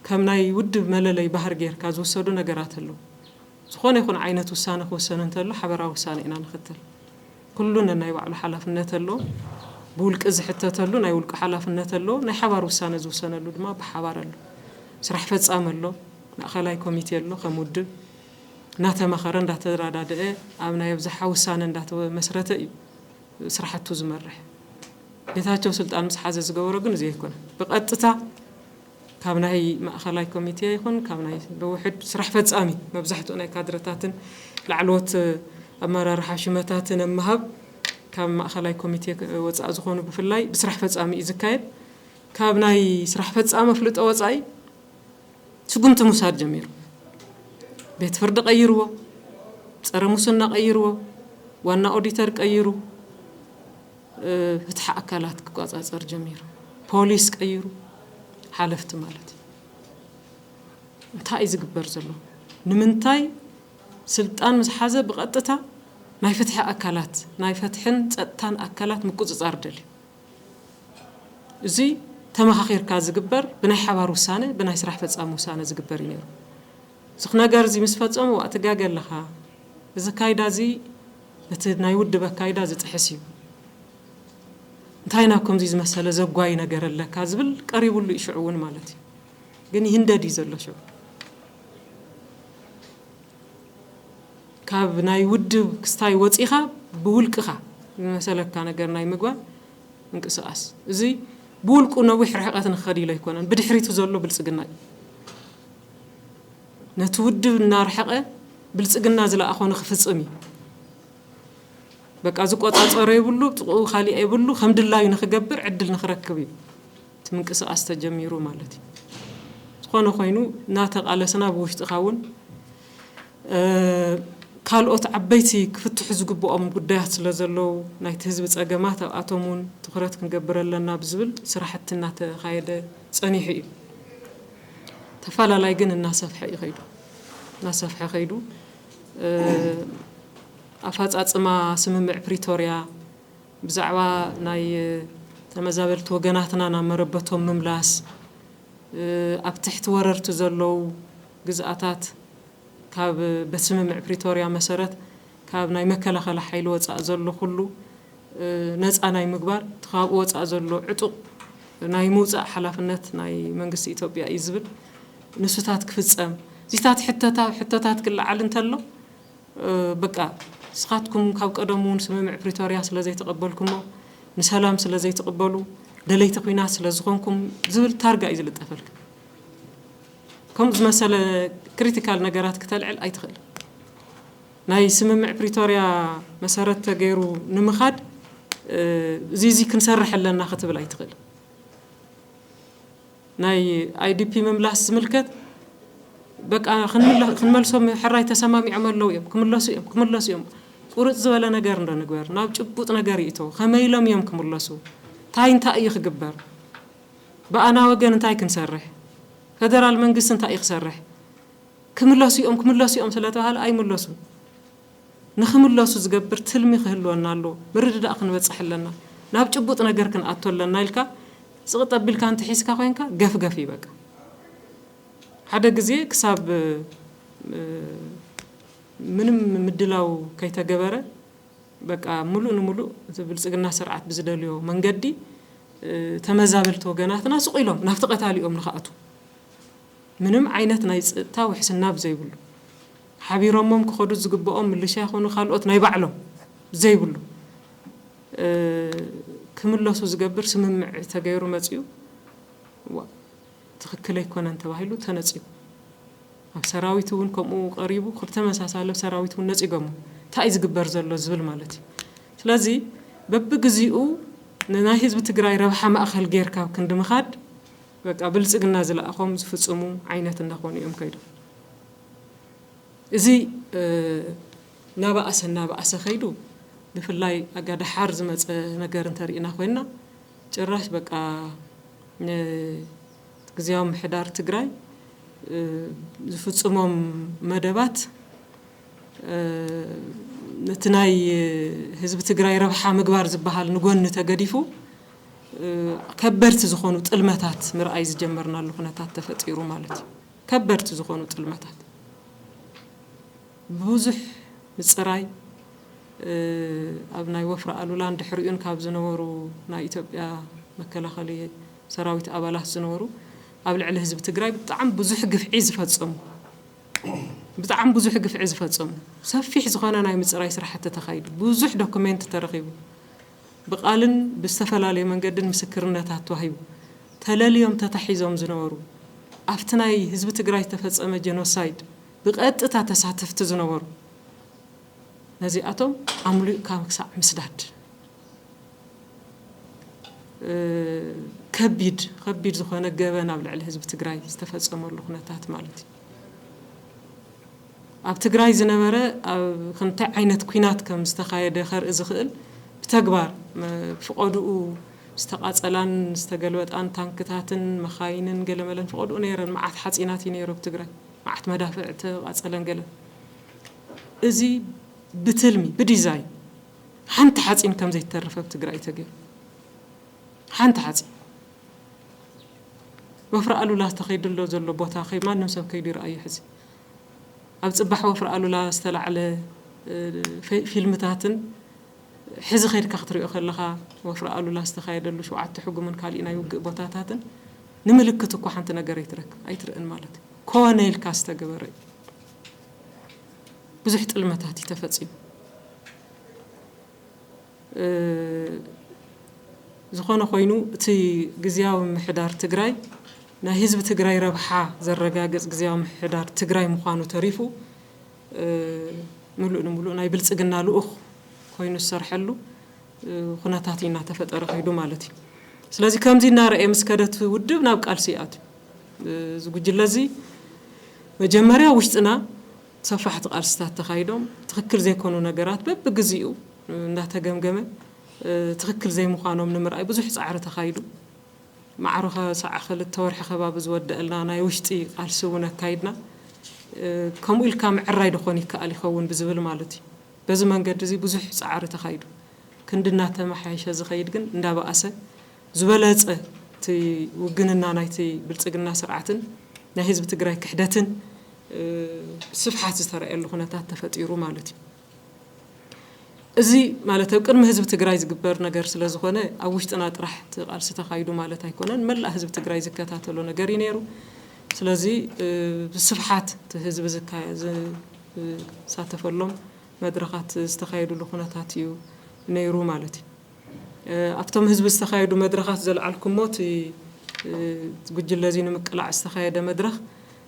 ከም ናይ ውድብ መለለይ ባህሪ ገይርካ ዝውሰዱ ነገራት ኣለው። ዝኾነ ይኹን ዓይነት ውሳነ ክውሰን እንተሎ ሓበራዊ ውሳነ ኢና ንኽተል። ኩሉ ነናይ ባዕሉ ሓላፍነት ኣለው። ብውልቂ ዝሕተተሉ ናይ ውልቁ ሓላፍነት ኣለው። ናይ ሓባር ውሳነ ዝውሰነሉ ድማ ብሓባር ኣሎ። ስራሕ ፈፃሚ ኣሎ፣ ማእኸላይ ኮሚቴ ኣሎ፣ ከም ውድብ እናተማኸረ እንዳተረዳደኣ ኣብ ናይ ኣብዝሓ ውሳነ እንዳተመስረተ እዩ ስራሕቱ ዝመርሕ። ጌታቸው ስልጣን ምስ ሓዘ ዝገበሮ ግን እዚ ኣይኮነን። ብቐጥታ ካብ ናይ ማእኸላይ ኮሚቴ ይኹን ካብ ናይ ብውሕድ ስራሕ ፈፃሚ መብዛሕትኡ ናይ ካድረታትን ላዕለዎት ኣመራርሓ ሽመታትን ኣብ ምሃብ ካብ ማእኸላይ ኮሚቴ ወፃእ ዝኾኑ ብፍላይ ብስራሕ ፈፃሚ እዩ ዝካየድ። ካብ ናይ ስራሕ ፈፃሚ ኣፍልጦ ወፃኢ ስጉምቲ ምውሳድ ጀሚሩ። ቤት ፍርዲ ቀይርዎ፣ ፀረ ሙስና ቀይርዎ፣ ዋና ኦዲተር ቀይሩ፣ ፍትሒ ኣካላት ክቆፃፀር ጀሚሩ፣ ፖሊስ ቀይሩ፣ ሓለፍቲ ማለት እዩ። እንታይ እዩ ዝግበር ዘሎ? ንምንታይ ስልጣን ምስ ሓዘ ብቐጥታ ናይ ፍትሒ ኣካላት ናይ ፍትሕን ፀጥታን ኣካላት ምቁፅፃር ደልዩ? እዚ ተመኻኺርካ ዝግበር ብናይ ሓባር ውሳነ ብናይ ስራሕ ፈፃሚ ውሳነ ዝግበር እዩ ነይሩ። እዚ ነገር እዚ ምስ ፈፀሙ ዋእ ትጋገ ኣለኻ፣ እዚ ኣካይዳ እዚ ነቲ ናይ ውድብ ኣካይዳ ዝጥሕስ እዩ፣ እንታይ ናብ ከምዙይ ዝመሰለ ዘጓዪ ነገር ኣለካ ዝብል ቀሪብሉ እዩ ሽዑ እውን ማለት እዩ። ግን ይህንደድ እዩ ዘሎ ሽዑ። ካብ ናይ ውድብ ክስታይ ወጺኻ ብውልቅኻ ዝመሰለካ ነገር ናይ ምግባር ምንቅስቃስ እዚ ብውልቁ ነዊሕ ርሕቀት ንክኸድ ኢሉ ኣይኮነን ብድሕሪቱ ዘሎ ብልጽግና እዩ። ነቲ ውድብ እናርሐቀ ብልጽግና ዝለኣኾ ንክፍጽም እዩ። በቃ ዝቆጻጸሮ የብሉ ጥቅኡ ካሊእ የብሉ ከምድላዩ ንክገብር ዕድል ንክረክብ እዩ። እቲ ምንቅስቓስ ተጀሚሩ ማለት እዩ። ዝኾነ ኮይኑ እናተቓለስና ብውሽጥኻ እውን ካልኦት ዓበይቲ ክፍትሑ ዝግብኦም ጉዳያት ስለዘለዉ ናይቲ ህዝቢ ፀገማት ኣብኣቶም እውን ትኹረት ክንገብር ኣለና ብዝብል ስራሕቲ እናተኻየደ ፀኒሑ እዩ። ተፋላላይ ግን እናሰፍሐ እዩ ከይዱ እናሰፍሐ ከይዱ ኣፋፃፅማ ስምምዕ ፕሪቶርያ ብዛዕባ ናይ ተመዛበልቲ ወገናትና ናብ መረበቶም ምምላስ፣ ኣብ ትሕቲ ወረርቲ ዘለዉ ግዝኣታት ካብ በቲ ስምምዕ ፕሪቶርያ መሰረት ካብ ናይ መከላኸሊ ሓይሊ ወፃእ ዘሎ ኩሉ ነፃ ናይ ምግባር እቲ ካብኡ ወፃእ ዘሎ ዕጡቕ ናይ ምውፃእ ሓላፍነት ናይ መንግስቲ ኢትዮጵያ እዩ ዝብል ንሱታት ክፍፀም እዚታት ሕቶታት ክለዓል እንተሎ በቃ ንስኻትኩም ካብ ቀደሙ ውን ስምምዕ ፕሪቶርያ ስለ ዘይተቐበልኩሞ፣ ንሰላም ስለ ዘይትቕበሉ፣ ደለይቲ ኹናት ስለ ዝኾንኩም ዝብል ታርጋ እዩ ዝልጠፈልካ። ከምኡ ዝመሰለ ክሪቲካል ነገራት ክተልዕል ኣይትኽእልን። ናይ ስምምዕ ፕሪቶርያ መሰረት ተገይሩ ንምኻድ እዚ እዚ ክንሰርሕ ኣለና ክትብል ኣይትኽእልን። ናይ IDP ምምላስ ዝምልከት በቃ ክንመልሶም ሕራይ ተሰማሚዖም ኣለው እዮም ክምለሱ እዮም ክምለሱ እዮም ቁርፅ ዝበለ ነገር እንዶ ንግበር ናብ ጭቡጥ ነገር ይእተው ከመይ ኢሎም እዮም ክምለሱ እንታይ እንታይ እዩ ክግበር ብኣና ወገን እንታይ ክንሰርሕ ፌደራል መንግስቲ እንታይ እዩ ክሰርሕ ክምለሱ እዮም ክምለሱ እዮም ስለተባሃለ ኣይምለሱን ንክምለሱ ዝገብር ትልሚ ክህልወና ኣለዎ፣ ምርድዳእ ክንበጽሕ ኣለና፣ ናብ ጭቡጥ ነገር ክንኣቱ ኣለና ኢልካ ጽቕጥ ኣቢልካ እንተሒዝካ ኮይንካ ገፍገፍ እዩ በቃ። ሓደ ግዜ ክሳብ ምንም ምድላው ከይተገበረ በቃ ምሉእ ንምሉእ እቲ ብልጽግና ስርዓት ብዝደልዮ መንገዲ ተመዛበልቲ ወገናትና ስቕ ኢሎም ናብቲ ቀታሊኦም ንክኣትዉ፣ ምንም ዓይነት ናይ ጽጥታ ውሕስና ብዘይብሉ፣ ሓቢሮሞም ክኸዱ ዝግበኦም ምልሻ ይኹኑ ካልኦት ናይ ባዕሎም ዘይብሉ ክምለሱ ዝገብር ስምምዕ ተገይሩ መጺኡ ዋእ ትኽክል ኣይኮነን ተባሂሉ ተነጺጉ። ኣብ ሰራዊት እውን ከምኡ ቀሪቡ ብተመሳሳሊ ኣብ ሰራዊት እውን ነጺጎሞ። እንታይ እዩ ዝግበር ዘሎ ዝብል ማለት እዩ። ስለዚ በብግዚኡ ንናይ ህዝቢ ትግራይ ረብሓ ማእኸል ገይርካ ኣብ ክንዲ ምኻድ፣ በቃ ብልፅግና ዝለኣኾም ዝፍፅሙ ዓይነት እናኾኑ እዮም ከይዶም። እዚ እናበኣሰ እናበኣሰ ከይዱ ብፍላይ ኣጋ ደሓር ዝመፀ ነገር እንተሪእና ኮይንና ጭራሽ በቃ ንግዝያዊ ምምሕዳር ትግራይ ዝፍፅሞም መደባት ነቲ ናይ ህዝቢ ትግራይ ረብሓ ምግባር ዝበሃል ንጎኒ ተገዲፉ ከበድቲ ዝኾኑ ጥልመታት ምርኣይ ዝጀመርናሉ ኩነታት ተፈጢሩ ማለት እዩ። ከበድቲ ዝኾኑ ጥልመታት ብብዙሕ ምጽራይ ኣብ ናይ ወፍሪ ኣሉላን ድሕሪኡን ካብ ዝነበሩ ናይ ኢትዮጵያ መከላኸሊ ሰራዊት ኣባላት ዝነበሩ ኣብ ልዕሊ ህዝቢ ትግራይ ብጣዕሚ ብዙሕ ግፍዒ ዝፈጸሙ ብጣዕሚ ብዙሕ ግፍዒ ዝፈጸሙ ሰፊሕ ዝኾነ ናይ ምጽራይ ስራሕቲ ተኻይዱ ብዙሕ ዶክሜንት ተረኺቡ ብቃልን ብዝተፈላለዩ መንገድን ምስክርነታት ተዋሂቡ ተለልዮም ተታሒዞም ዝነበሩ ኣብቲ ናይ ህዝቢ ትግራይ ዝተፈፀመ ጀኖሳይድ ብቀጥታ ተሳተፍቲ ዝነበሩ ነዚኣቶም ኣምሊቕካ ክሳዕ ምስዳድ ከቢድ ከቢድ ዝኾነ ገበን ኣብ ልዕሊ ህዝቢ ትግራይ ዝተፈፀመሉ ኩነታት ማለት እዩ። ኣብ ትግራይ ዝነበረ ኣብ ከምታይ ዓይነት ኩናት ከም ዝተኻየደ ከርኢ ዝኽእል ብተግባር ፍቐድኡ ዝተቓፀላን ዝተገልበጣን ታንክታትን መኻይንን ገለመለን ፍቐድኡ ነይረን መዓት ሓፂናት እዩ ነይሩ ኣብ ትግራይ መዓት መዳፍዕ ተቓፀለን ገለን እዚ ብትልሚ ብዲዛይን ሓንቲ ሓፂን ከም ዘይትተርፍ ኣብ ትግራይ እዩ ተገይሩ ሓንቲ ሓፂን ወፍሪ ኣሉላ ተኸይድሎ ዘሎ ቦታ ማንም ሰብ ከይዱ ይርኣዮ ሕዚ ኣብ ጽባሕ ወፍሪ ኣሉላ ዝተላዕለ ፊልምታትን ሕዚ ከድካ ክትሪኦ ከለኻ ወፍሪ ኣሉላ ዝተኻየደሉ ሸውዓተ ሕጉምን ካሊእ ናይ ውግእ ቦታታትን ንምልክት እኳ ሓንቲ ነገር ኣይትረክብ ኣይትርእን ማለት እዩ ኮነ ኢልካ ዝተገበረ እዩ ብዙሕ ጥልመታት እዩ ተፈጺሙ። ዝኾነ ኾይኑ እቲ ግዝያዊ ምምሕዳር ትግራይ ናይ ህዝቢ ትግራይ ረብሓ ዘረጋግፅ ግዝያዊ ምምሕዳር ትግራይ ምዃኑ ተሪፉ ምሉእ ንምሉእ ናይ ብልፅግና ልኡኽ ኮይኑ ዝሰርሐሉ ኹነታት እዩ እናተፈጠረ ከይዱ ማለት እዩ። ስለዚ ከምዚ እናረኣየ ምስ ከደ እቲ ውድብ ናብ ቃልሲ ይኣትው። እዚ ጉጅለ እዚ መጀመርያ ውሽጥና ሰፋሕቲ ቃልስታት ተኻይዶም ትኽክል ዘይኮኑ ነገራት በብግዚኡ እንዳተገምገመ ትኽክል ዘይምዃኖም ንምርኣይ ብዙሕ ፃዕሪ ተኻይዱ። ማዕረ ክሳዕ ክልተ ወርሒ ከባቢ ዝወደኣልና ናይ ውሽጢ ቃልሲ እውን ኣካይድና። ከምኡ ኢልካ ምዕራይ ደኾን ይከኣል ይኸውን ብዝብል ማለት እዩ። በዚ መንገዲ እዚ ብዙሕ ፃዕሪ ተኻይዱ። ክንዲ እናተመሓየሸ ዝኸይድ ግን እንዳበኣሰ፣ ዝበለፀ እቲ ውግንና ናይቲ ብልፅግና ስርዓትን ናይ ህዝቢ ትግራይ ክሕደትን ብስፍሓት ዝተረኣየሉ ኩነታት ተፈጢሩ ማለት እዩ። እዚ ማለት ኣብ ቅድሚ ህዝቢ ትግራይ ዝግበር ነገር ስለዝኾነ ኣብ ውሽጥና ጥራሕ እቲ ቃልሲ ተኻይዱ ማለት ኣይኮነን። መላእ ህዝቢ ትግራይ ዝከታተሎ ነገር እዩ ነይሩ። ስለዚ ብስፍሓት እቲ ህዝቢ ዝሳተፈሎም መድረኻት ዝተኻየድሉ ኩነታት እዩ ነይሩ ማለት እዩ። ኣብቶም ህዝቢ ዝተኻየዱ መድረኻት ዘልዓልኩሞ እቲ ጉጅለ እዚ ንምቅላዕ ዝተኻየደ መድረኽ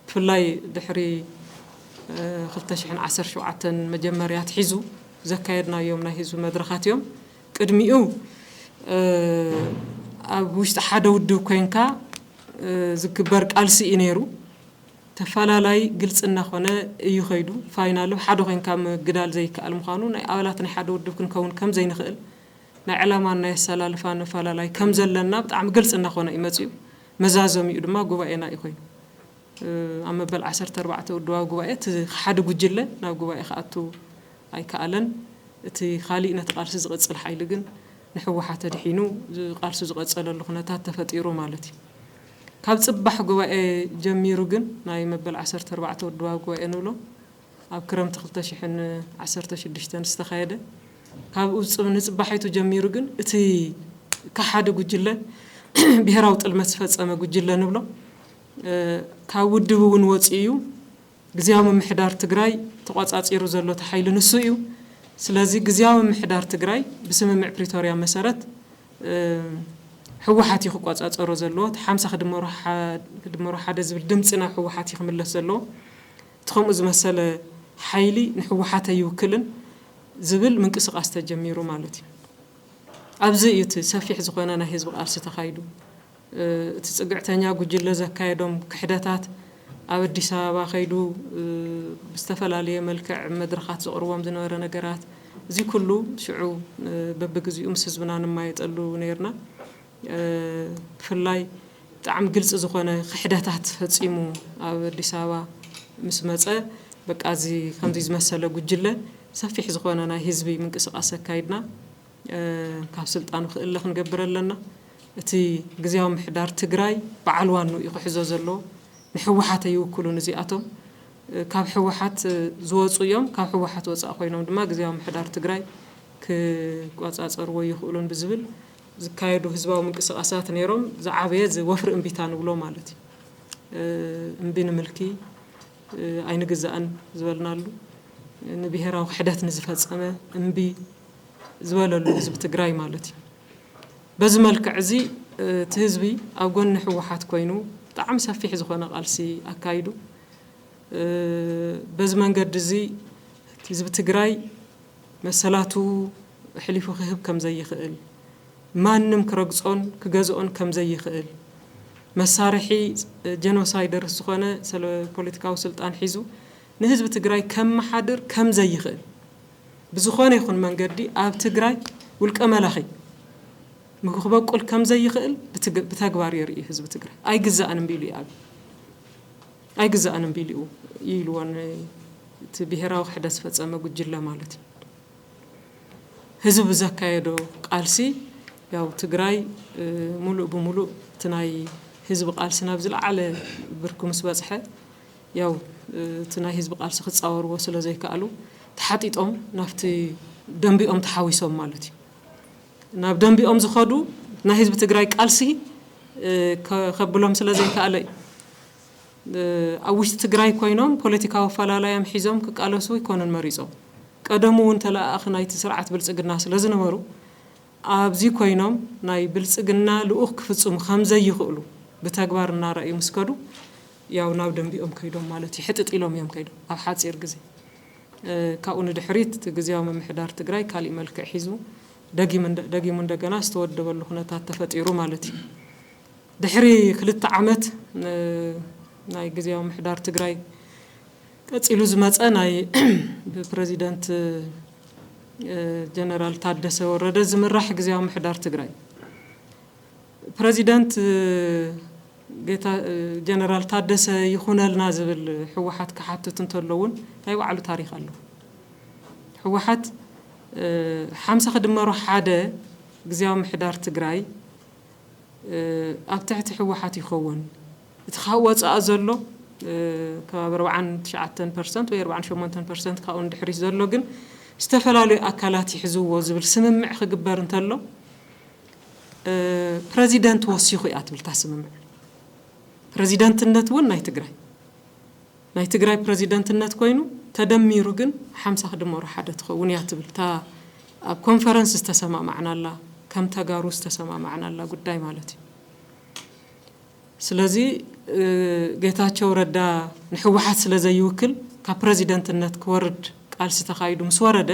ብፍላይ ድሕሪ ክልተ ሽሕን ዓሰርተ ሸውዓተን መጀመርያ ኣትሒዙ ዘካየድናዮም ናይ ህዝቢ መድረኻት እዮም። ቅድሚኡ ኣብ ውሽጢ ሓደ ውድብ ኮይንካ ዝግበር ቃልሲ እዩ ነይሩ። ተፋላላይ ግልፂ እናኾነ እዩ ከይዱ። ፋይናሉ ሓደ ኮይንካ ምግዳል ዘይከኣል ምዃኑ፣ ናይ ኣባላት ናይ ሓደ ውድብ ክንከውን ከም ዘይንኽእል፣ ናይ ዕላማን ናይ ኣሰላልፋን ኣፋላላይ ከም ዘለና ብጣዕሚ ግልፂ እናኾነ እዩ መፂኡ። መዛዘሚኡ ድማ ጉባኤና እዩ ኮይኑ። ኣብ መበል ዓሰርተ ኣርባዕተ ውድባዊ ጉባኤ እቲ ሓደ ጉጅለ ናብ ጉባኤ ክኣቱ ኣይከኣለን። እቲ ካሊእ ነቲ ቃልሲ ዝቕፅል ሓይሊ ግን ንህወሓት ኣድሒኑ ቃልሱ ዝቐፀለሉ ኩነታት ተፈጢሩ ማለት እዩ። ካብ ጽባሕ ጉባኤ ጀሚሩ ግን ናይ መበል ዓሰርተ ኣርባዕተ ውድባዊ ጉባኤ ንብሎ ኣብ ክረምቲ ክልተ ሽሕን ዓሰርተ ሽዱሽተን ዝተኻየደ ካብኡ ንጽባሒቱ ጀሚሩ ግን እቲ ከሓዲ ጉጅለ ብሄራዊ ጥልመት ዝፈጸመ ጉጅለ ንብሎ ካብ ውድብ'ውን ወጺኡ'ዩ ግዝያዊ ምምሕዳር ትግራይ ተቖፃፂሩ ዘሎ እቲ ሓይሊ ንሱ እዩ። ስለዚ ግዝያዊ ምምሕዳር ትግራይ ብስምምዕ ፕሪቶርያ መሰረት ህወሓት እዩ ክቆፃፀሮ ዘለዎ። እቲ ሓምሳ ክድመሩ ሓደ ዝብል ድምፂ ናብ ህወሓት እዩ ክምለስ ዘለዎ። እቲ ከምኡ ዝመሰለ ሓይሊ ንህወሓት ኣይውክልን ዝብል ምንቅስቓስ ተጀሚሩ ማለት እዩ። ኣብዚ እዩ እቲ ሰፊሕ ዝኾነ ናይ ህዝቢ ቃልሲ ተኻይዱ። እቲ ፅግዕተኛ ጉጅለ ዘካየዶም ክሕደታት ኣብ ኣዲስ ኣበባ ከይዱ ብዝተፈላለየ መልክዕ ኣብ መድረኻት ዘቕርቦም ዝነበረ ነገራት እዚ ኩሉ ሽዑ በብግዚኡ ምስ ህዝብና ንማየጠሉ ነይርና። ብፍላይ ብጣዕሚ ግልፂ ዝኾነ ክሕደታት ፈፂሙ ኣብ ኣዲስ ኣበባ ምስ መፀ በቃ እዚ ከምዙይ ዝመሰለ ጉጅለ ሰፊሕ ዝኾነ ናይ ህዝቢ ምንቅስቓስ ኣካይድና ካብ ስልጣኑ ክእለ ክንገብር ኣለና። እቲ ግዝያዊ ምምሕዳር ትግራይ በዓል ዋንኡ እዩ ክሕዞ ዘለዎ። ንሕወሓት ኣይውክሉን እዚኣቶም። ካብ ሕወሓት ዝወፁ እዮም። ካብ ሕወሓት ወፃእ ኮይኖም ድማ ግዝያዊ ምምሕዳር ትግራይ ክቆፃፀርዎ ኣይኽእሉን ብዝብል ዝካየዱ ህዝባዊ ምንቅስቓሳት ነይሮም። ዝዓበየ እዚ ወፍሪ እምቢታ ንብሎ ማለት እዩ። እምቢ ንምልኪ ኣይንግዛእን ዝበልናሉ፣ ንብሄራዊ ክሕደት ንዝፈፀመ እምቢ ዝበለሉ ህዝቢ ትግራይ ማለት እዩ። በዚ መልክዕ እዚ እቲ ህዝቢ ኣብ ጎኒ ህወሓት ኮይኑ ብጣዕሚ ሰፊሕ ዝኾነ ቃልሲ ኣካይዱ። በዚ መንገዲ እዚ ህዝቢ ትግራይ መሰላቱ ኣሕሊፉ ክህብ ከም ዘይኽእል፣ ማንም ክረግፆን ክገዝኦን ከም ዘይኽእል፣ መሳርሒ ጀኖሳይደርስ ዝኾነ ፖለቲካዊ ስልጣን ሒዙ ንህዝቢ ትግራይ ከመሓድር ከም ዘይኽእል፣ ብዝኾነ ይኹን መንገዲ ኣብ ትግራይ ውልቀ መላኺ ምክበቁል ከምዘይኽእል ብተግባር የርእዩ ህዝቢ ትግራይ ኣይግዛእን እምቢ ኢሉ እዩ ኣብይ ኣይግዛእን እምቢ ኢሉ እዩ ኢልዎ እቲ ብሄራዊ ክሕደት ዝፈፀመ ጉጅለ ማለት እዩ ህዝቢ ብዘካየዶ ቃልሲ ያው ትግራይ ሙሉእ ብሙሉእ እቲ ናይ ህዝቢ ቃልሲ ናብ ዝለዓለ ብርኪ ምስ በፅሐ ያው እቲ ናይ ህዝቢ ቃልሲ ክጻወርዎ ስለ ዘይከኣሉ ተሓጢጦም ናብቲ ደምቢኦም ተሓዊሶም ማለት እዩ። ናብ ደምቢኦም ዝኸዱ ናይ ህዝቢ ትግራይ ቃልሲ ከብሎም ስለ ዘይከኣለ እዩ። ኣብ ውሽጢ ትግራይ ኮይኖም ፖለቲካዊ ኣፈላላዮም ሒዞም ክቃለሱ ኣይኮኑን መሪጾም። ቀደሙ እውን ተለኣኣኺ ናይቲ ስርዓት ብልጽግና ስለ ዝነበሩ ኣብዚ ኮይኖም ናይ ብልጽግና ልኡኽ ክፍጽሙ ከም ዘይኽእሉ ብተግባር እናረኣዩ ምስ ከዱ፣ ያው ናብ ደምቢኦም ከይዶም ማለት እዩ ሕጥጥ ኢሎም እዮም ከይዶም ኣብ ሓፂር ግዜ ካብኡ ንድሕሪት እቲ ግዝያዊ ምምሕዳር ትግራይ ካሊእ መልክዕ ሒዙ ደጊም ደጊሙ እንደገና ዝተወደበሉ ኩነታት ተፈጢሩ ማለት እዩ ድሕሪ ክልተ ዓመት ናይ ግዝያዊ ምሕዳር ትግራይ ቀፂሉ ዝመፀ ናይ ብፕረዚደንት ጀነራል ታደሰ ወረደ ዝምራሕ ግዝያዊ ምሕዳር ትግራይ ፕረዚደንት ጀነራል ታደሰ ይኹነልና ዝብል ህወሓት ክሓትት እንተሎ እውን ናይ ባዕሉ ታሪኽ ኣለዎ። ህወሓት ሓምሳ ክድመሮ ሓደ ግዝያዊ ምሕዳር ትግራይ ኣብ ትሕቲ ህወሓት ይኸውን እቲ ካብኡ ወፃኢ ዘሎ ከባቢ ኣርብዓን ትሽዓተን ፐርሰንት ወይ ኣርብዓን ሸሞንተን ፐርሰንት ካብኡ ንድሕሪት ዘሎ ግን ዝተፈላለዩ ኣካላት ይሕዝዎ ዝብል ስምምዕ ክግበር እንተሎ ፕረዚደንት ወሲኹ እያ ትብል እታ ስምምዕ። ፕረዚደንትነት እውን ናይ ትግራይ ናይ ትግራይ ፕረዚደንትነት ኮይኑ ተደሚሩ ግን ሓምሳ ክድመሩ ሓደ ትኸውን እያ ትብል እታ ኣብ ኮንፈረንስ ዝተሰማማዕናላ ከም ተጋሩ ዝተሰማማዕናላ ጉዳይ ማለት እዩ። ስለዚ ጌታቸው ረዳ ንሕወሓት ስለ ዘይውክል ካብ ፕረዚደንትነት ክወርድ ቃልሲ ተኻይዱ ምስ ወረደ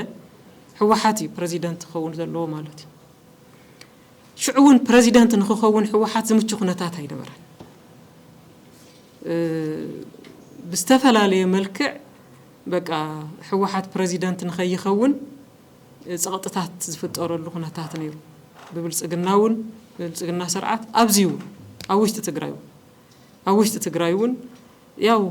ሕወሓት እዩ ፕረዚደንት ክኸውን ዘለዎ ማለት እዩ። ሽዑ እውን ፕረዚደንት ንክኸውን ሕወሓት ዝምቹ ኩነታት ኣይነበረን። ብዝተፈላለየ መልክዕ በቃ ሕወሓት ፕረዚደንት ንከይኸውን ጸቕጥታት ዝፍጠረሉ ኩነታት ነይሩ። ብብልጽግና እውን ብብልጽግና ስርዓት ኣብዚ እውን ኣብ ውሽጢ ትግራይ እውን ኣብ ውሽጢ ትግራይ እውን ያው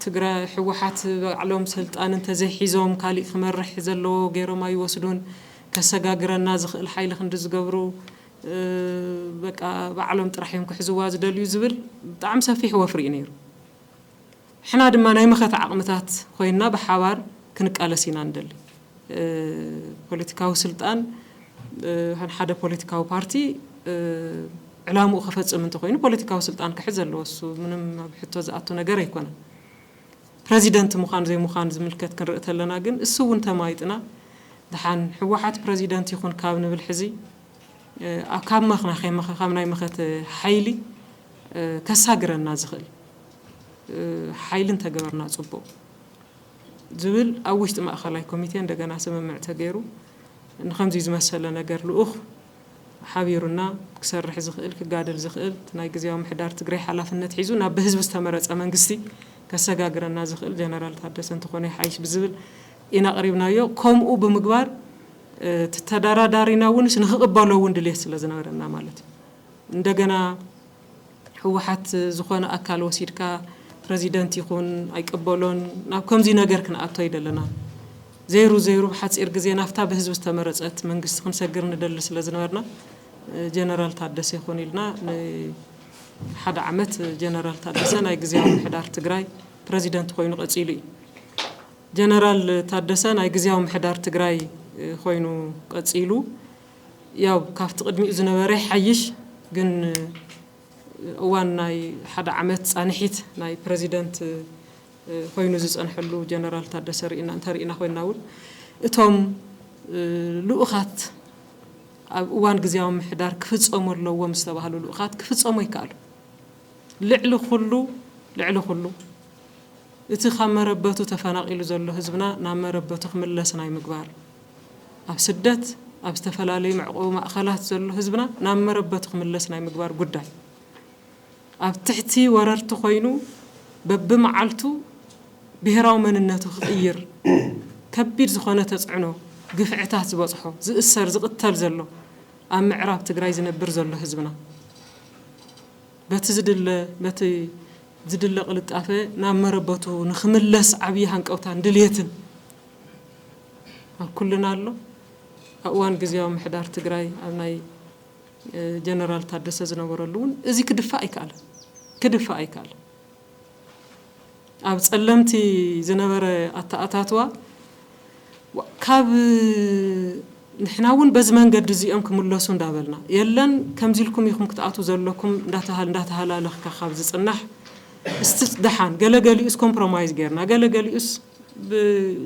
ትግራይ ህወሓት ባዕሎም ስልጣን እንተዘይሒዞም ካሊእ ክመርሕ ዘለዎ ገይሮም ኣይወስዱን። ከሰጋግረና ዝኽእል ሓይሊ ክንዲ ዝገብሩ በቃ ባዕሎም ጥራሕ እዮም ክሕዝዋ ዝደልዩ ዝብል ብጣዕሚ ሰፊሕ ወፍሪ እዩ ነይሩ። ንሕና ድማ ናይ መኸተ ዓቕምታት ኮይንና ብሓባር ክንቃለስ ኢና ንደሊ። ፖለቲካዊ ስልጣን ይኹን ሓደ ፖለቲካዊ ፓርቲ ዕላምኡ ከፈፅም እንተኾይኑ ፖለቲካዊ ስልጣን ክሕዝ ኣለዎ። እሱ ምንም ኣብ ሕቶ ዝኣቱ ነገር ኣይኮነን። ፕረዚደንት ምዃን ዘይምዃን ዝምልከት ክንርኢ ተለና ግን እሱ እውን ተማይጥና ደሓን ህወሓት ፕረዚደንት ይኹን ካብ ንብል ሕዚ ካብ መኽና ከም ናይ መኸተ ሓይሊ ከሳግረና ዝኽእል ሓይሊ እንተገበርና ፅቡቕ ዝብል ኣብ ውሽጢ ማእኸላይ ኮሚቴ እንደገና ስምምዕ ተገይሩ ንከምዚ ዝመሰለ ነገር ልኡኽ ሓቢሩና ክሰርሕ ዝኽእል ክጋደል ዝኽእል ናይ ግዜያዊ ምሕዳር ትግራይ ሓላፍነት ሒዙ ናብ ብህዝቢ ዝተመረፀ መንግስቲ ከሰጋግረና ዝኽእል ጀነራል ታደሰ እንተኾነ ይሓይሽ ብዝብል ኢና ኣቕሪብናዮ ከምኡ ብምግባር እቲ ተደራዳሪና እውንስ ንክቕበሎ እውን ድልየት ስለ ዝነበረና ማለት እዩ እንደገና ህወሓት ዝኾነ ኣካል ወሲድካ ፕረዚደንት ይኹን ኣይቀበሎን ናብ ከምዚ ነገር ክንኣቱ ኣይደለናን። ዘይሩ ዘይሩ ብሓጺር ግዜ ናብታ ብህዝቢ ዝተመረጸት መንግስቲ ክንሰግር ንደሊ ስለ ዝነበርና ጀነራል ታደሰ ይኹን ኢልና ንሓደ ዓመት ጀነራል ታደሰ ናይ ግዝያዊ ምምሕዳር ትግራይ ፕረዚደንት ኮይኑ ቀጺሉ እዩ። ጀነራል ታደሰ ናይ ግዝያዊ ምምሕዳር ትግራይ ኮይኑ ቀጺሉ። ያው ካብቲ ቅድሚኡ ዝነበረ ይሓይሽ ግን እዋን ናይ ሓደ ዓመት ፃንሒት ናይ ፕረዚደንት ኾይኑ ዝፀንሐሉ ጀነራል ታደሰ ሪኢና እንተሪኢና ኾይንና ውን እቶም ልኡኻት ኣብ እዋን ግዝያዊ ምምሕዳር ክፍፀሙ ኣለዎም ዝተባህሉ ልኡኻት ክፍፀሙ ኣይከኣሉ ልዕሊ ኹሉ ልዕሊ ኹሉ እቲ ካብ መረበቱ ተፈናቒሉ ዘሎ ህዝብና ናብ መረበቱ ክምለስ ናይ ምግባር ኣብ ስደት ኣብ ዝተፈላለዩ መዕቆቢ ማእኸላት ዘሎ ህዝብና ናብ መረበቱ ክምለስ ናይ ምግባር ጉዳይ ኣብ ትሕቲ ወረርቲ ኮይኑ በብመዓልቱ ብሄራዊ መንነቱ ክቕይር ከቢድ ዝኾነ ተፅዕኖ ግፍዕታት ዝበፅሖ ዝእሰር ዝቕተል ዘሎ ኣብ ምዕራብ ትግራይ ዝነብር ዘሎ ህዝብና በቲ ዝድለ በቲ ዝድለ ቅልጣፈ ናብ መረበቱ ንክምለስ ዓብዪ ሃንቀውታን ድልየትን ኣብ ኩልና ኣሎ። ኣብ እዋን ግዝያዊ ምሕዳር ትግራይ ኣብ ናይ ጀነራል ታደሰ ዝነበረሉ እውን እዚ ክድፋእ ኣይከኣለን ክድፋእ ኣይከኣለን። ኣብ ጸለምቲ ዝነበረ ኣተኣታትዋ ካብ ንሕና እውን በዚ መንገዲ እዚ እዮም ክምለሱ እንዳበልና፣ የለን ከምዚ ኢልኩም ኢኹም ክትኣትዉ ዘለኩም እንዳተባህል እንዳተሃላለኽካ ካብ ዝጽናሕ፣ እስቲ ደሓን ገለ ገሊኡስ ኮምፕሮማይዝ ጌርና፣ ገለ ገሊኡስ ብ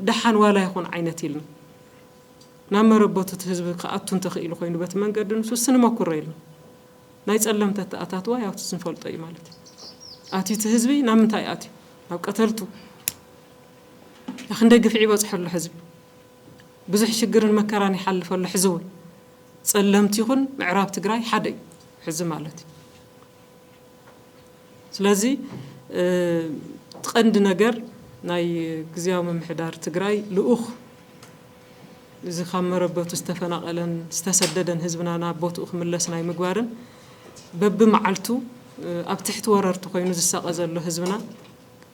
ደሓን ዋላ ይኹን ዓይነት ኢልና፣ ናብ መረበቱ እቲ ህዝቢ ክኣቱ እንተኽኢሉ ኮይኑ በቲ መንገዲ ንሱ እስቲ ንመኩሮ ኢልና፣ ናይ ጸለምቲ ኣተኣታትዋ ያው እቲ ዝንፈልጦ እዩ ማለት እዩ። ኣትዩ እቲ ህዝቢ ናብ ምንታይ እዩ ኣትዩ? ናብ ቀተልቱ። ክንደይ ግፍዒ በጽሖ ኣሎ ሕዝቢ? ብዙሕ ሽግርን መከራን ይሓልፍ ኣሎ ሕዚ ውን ፀለምት ይኹን ምዕራብ ትግራይ ሓደ እዩ ሕዚ ማለት እዩ ስለዚ እቲ ቀንዲ ነገር ናይ ግዝያዊ ምምሕዳር ትግራይ ልኡኽ እዚ ካብ መረበቱ ዝተፈናቐለን ዝተሰደደን ህዝብና ናብ ቦትኡ ክምለስ ናይ ምግባርን በቢ መዓልቱ ኣብ ትሕቲ ወረርቲ ኮይኑ ዝሳቐ ዘሎ ህዝብና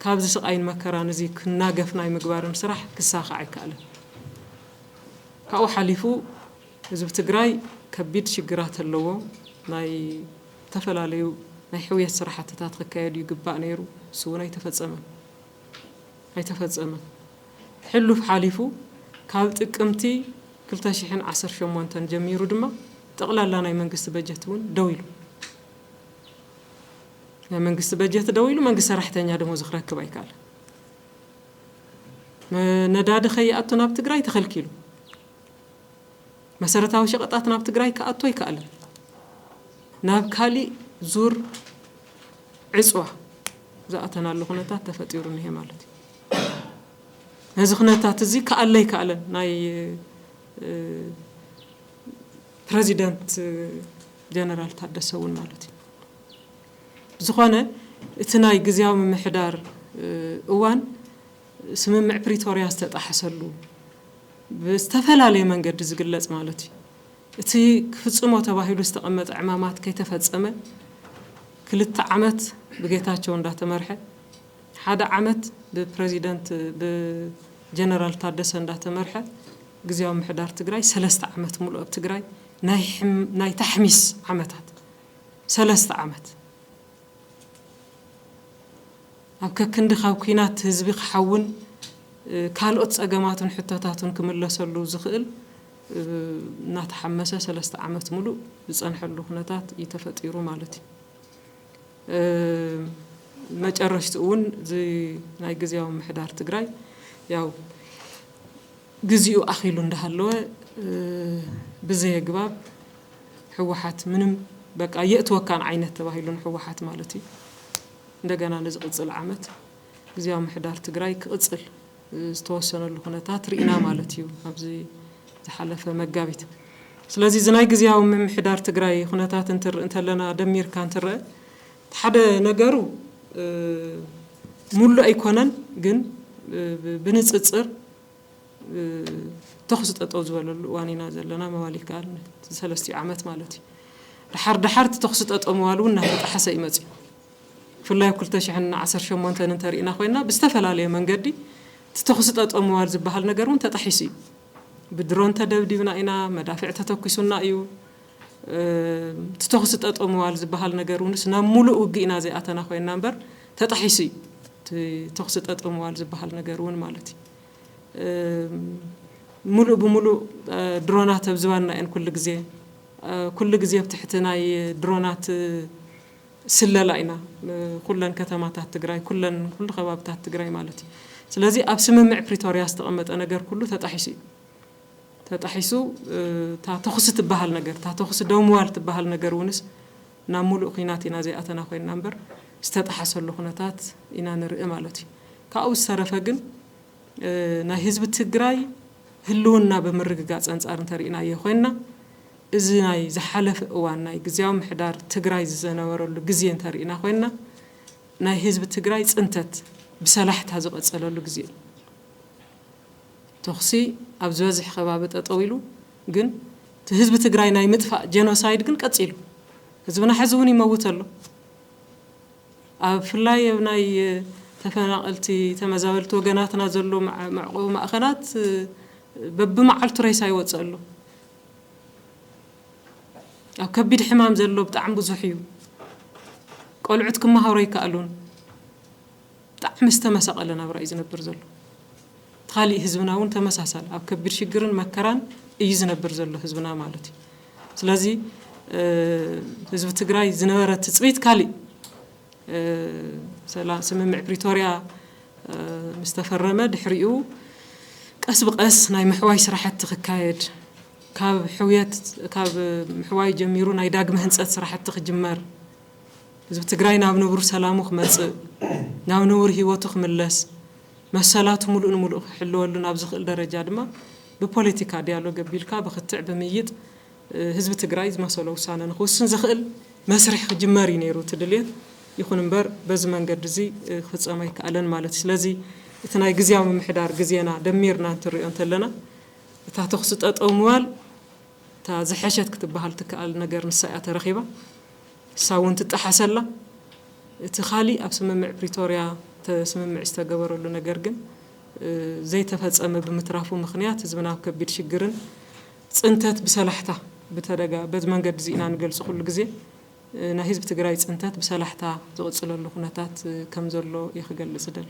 ካብዚ ስቓይን መከራን እዚ ክናገፍ ናይ ምግባርን ስራሕ ክሳኻዕ ኣይከኣለን። ካብኡ ሓሊፉ ህዝቢ ትግራይ ከቢድ ሽግራት ኣለዎ። ናይ ዝተፈላለዩ ናይ ሕውየት ስራሕትታት ክካየድ ይግባእ ነይሩ። እሱ እውን ኣይተፈፀመን። ኣይተፈፀመን። ሕሉፍ ሓሊፉ ካብ ጥቅምቲ ክልተ ሽሕን ዓሰርተ ሸሞንተን ጀሚሩ ድማ ጠቕላላ ናይ መንግስቲ በጀት እውን ደው ኢሉ። ናይ መንግስቲ በጀት ደው ኢሉ መንግስቲ ሰራሕተኛ ደሞዙ ክረክብ ኣይከኣለን። ነዳዲ ከይኣቱ ናብ ትግራይ ተኸልኪሉ። መሰረታዊ ሸቐጣት ናብ ትግራይ ክኣቱ ኣይከኣለን። ናብ ካሊእ ዙር ዕፅዋ ዝኣተናሉ ኩነታት ተፈጢሩ እኒሀ ማለት እዩ። ነዚ ኩነታት እዚ ክኣለ ኣይከኣለን ናይ ፕረዚደንት ጀነራል ታደሰ እውን ማለት እዩ። ብዝኾነ እቲ ናይ ግዝያዊ ምምሕዳር እዋን ስምምዕ ፕሪቶርያ ዝተጣሕሰሉ ብዝተፈላለየ መንገዲ ዝግለፅ ማለት እዩ። እቲ ክፍፅሞ ተባሂሉ ዝተቐመጠ ዕማማት ከይተፈፀመ ክልተ ዓመት ብጌታቸው እንዳተመርሐ ሓደ ዓመት ብፕረዚደንት ብጀነራል ታደሰ እንዳተመርሐ ግዝያዊ ምምሕዳር ትግራይ ሰለስተ ዓመት ሙሉእ ኣብ ትግራይ ናይ ታሕሚስ ዓመታት ሰለስተ ዓመት ኣብ ከክንዲ ካብ ኩናት ህዝቢ ክሓውን ካልኦት ፀገማቱን ሕቶታቱን ክምለሰሉ ዝኽእል እናተሓመሰ ሰለስተ ዓመት ሙሉእ ዝፀንሐሉ ኩነታት እዩ ተፈጢሩ ማለት እዩ። መጨረሽትኡ እውን እዚ ናይ ግዝያዊ ምምሕዳር ትግራይ ያው ግዚኡ ኣኺሉ እንዳሃለወ ብዘየግባብ ህወሓት ምንም በቃ የእትወካን ዓይነት ተባሂሉ ንህወሓት ማለት እዩ እንደገና ንዝቕፅል ዓመት ግዚያዊ ምሕዳር ትግራይ ክቕፅል ዝተወሰነሉ ኩነታት ሪኢና ማለት እዩ ኣብዚ ዝሓለፈ መጋቢት። ስለዚ እዚ ናይ ግዚያዊ ምምሕዳር ትግራይ ኩነታት እንትርኢ እንተለና ደሚርካ እንትረእ ሓደ ነገሩ ሙሉእ ኣይኮነን ግን ብንፅፅር ተኹሲ ጠጠው ዝበለሉ እዋን ኢና ዘለና ምባል ይከኣል። ነቲ ሰለስቲኡ ዓመት ማለት እዩ። ደሓር ደሓር እቲ ተኹሲ ጠጠው ምባል እውን እናተጣሓሰ እዩ መፂኡ። ብፍላይ ኣብ ክልተ ሽሕን ዓሰርተ ሸሞንተን እንተሪእና ኮይንና ብዝተፈላለየ መንገዲ እቲ ተኹሲ ጠጠው ምባል ዝበሃል ነገር እውን ተጣሒሱ እዩ። ብድሮን ተደብዲብና ኢና፣ መዳፍዕ ተተኲሱና እዩ፣ እቲ ተኹሲ ጠጠው ምባል ዝበሃል ነገር እውንስ ናብ ሙሉእ ውግእ ኢና ዘይኣተና ኮይንና እምበር ተጣሒሱ እዩ እቲ ተኹሲ ጠጠው ምባል ዝበሃል ነገር እውን ማለት እዩ ሙሉእ ብሙሉእ ድሮናት ኣብ ዝባንና እየን ኩሉ ግዜ ኩሉ ግዜ ኣብ ትሕቲ ናይ ድሮናት ስለላ ኢና ኩለን ከተማታት ትግራይ ኩለን ኩሉ ከባብታት ትግራይ ማለት እዩ ስለዚ ኣብ ስምምዕ ፕሪቶርያ ዝተቐመጠ ነገር ኩሉ ተጣሒሱ እዩ። ተጣሒሱ እታ ተኹሲ ትበሃል ነገር እታ ተኹሲ ደው ምባል ትበሃል ነገር እውንስ ናብ ሙሉእ ኹናት ኢና ዘይኣተና ኮይንና እምበር ዝተጠሓሰሉ ኩነታት ኢና ንርኢ ማለት እዩ። ካብኡ ዝተረፈ ግን ናይ ህዝቢ ትግራይ ህልውና ብምርግጋፅ ኣንፃር እንተሪኢናዮ ኮይንና እዚ ናይ ዝሓለፈ እዋን ናይ ግዝያዊ ምሕዳር ትግራይ ዝዘነበረሉ ግዜ እንተሪኢና ኮይንና ናይ ህዝቢ ትግራይ ፅንተት ብሰላሕታ ዝቐፀለሉ ግዜ እዩ። ተኹሲ ኣብ ዝበዝሕ ከባቢ ጠጠው ኢሉ ግን እቲ ህዝቢ ትግራይ ናይ ምጥፋእ ጀኖሳይድ ግን ቀፂሉ ህዝብና ሕዚ እውን ይመውት ኣሎ ኣብ ብፍላይ ኣብ ናይ ተፈናቐልቲ ተመዛበልቲ ወገናትና ዘሎ መዕቆቢ ማእኸላት በብመዓልቱ ሬሳ ይወፅእ ኣሎ ኣብ ከቢድ ሕማም ዘሎ ብጣዕሚ ብዙሕ እዩ ቆልዑት ክመሃሩ ኣይከኣሉን ብጣዕሚ ዝተመሰቐለ ናብራ እዩ ዝነብር ዘሎ እቲ ካሊእ ህዝብና እውን ተመሳሳሊ ኣብ ከቢድ ሽግርን መከራን እዩ ዝነብር ዘሎ ህዝብና ማለት እዩ ስለዚ ህዝቢ ትግራይ ዝነበረ ትፅቢት ካሊእ ስምምዕ ፕሪቶርያ ምስ ተፈረመ ድሕሪኡ ቀስ ብቀስ ናይ ምሕዋይ ስራሕቲ ክካየድ ካብ ሕውየት ካብ ምሕዋይ ጀሚሩ ናይ ዳግመ ህንፀት ስራሕቲ ክጅመር ህዝቢ ትግራይ ናብ ንቡር ሰላሙ ክመፅእ፣ ናብ ንቡር ህይወቱ ክምለስ፣ መሰላቱ ሙሉእ ንሙሉእ ክሕልወሉ ናብ ዝኽእል ደረጃ ድማ ብፖለቲካ ዲያሎግ ኣቢልካ ብክትዕ ብምይይጥ ህዝቢ ትግራይ ዝመሰሎ ውሳነ ንክውስን ዘኽእል መስርሕ ክጅመር እዩ ነይሩ እቲ ድልየት። ይኹን እምበር በዚ መንገዲ እዚ ክፍፀም ኣይከኣለን ማለት እዩ። ስለዚ እቲ ናይ ግዝያዊ ምምሕዳር ግዜና ደሚርና እንትንሪኦ እንተለና እታ ተኹሲ ጠጠው ምባል፣ እታ ዝሐሸት ክትበሃል ትከኣል ነገር ንሳ እያ ተረኺባ። ንሳ እውን ትጠሓሰ ኣላ። እቲ ካሊእ ኣብ ስምምዕ ፕሪቶርያ ስምምዕ ዝተገበረሉ ነገር ግን ዘይተፈፀመ ብምትራፉ ምኽንያት ህዝብና ኣብ ከቢድ ሽግርን ፅንተት ብሰላሕታ ብተደጋ በዚ መንገዲ እዚ ኢና ንገልፆ ኩሉ ግዜ ናይ ህዝቢ ትግራይ ፅንተት ብሰላሕታ ዝቕፅለሉ ኩነታት ከምዘሎ እየ ክገልፅ ዝደሊ።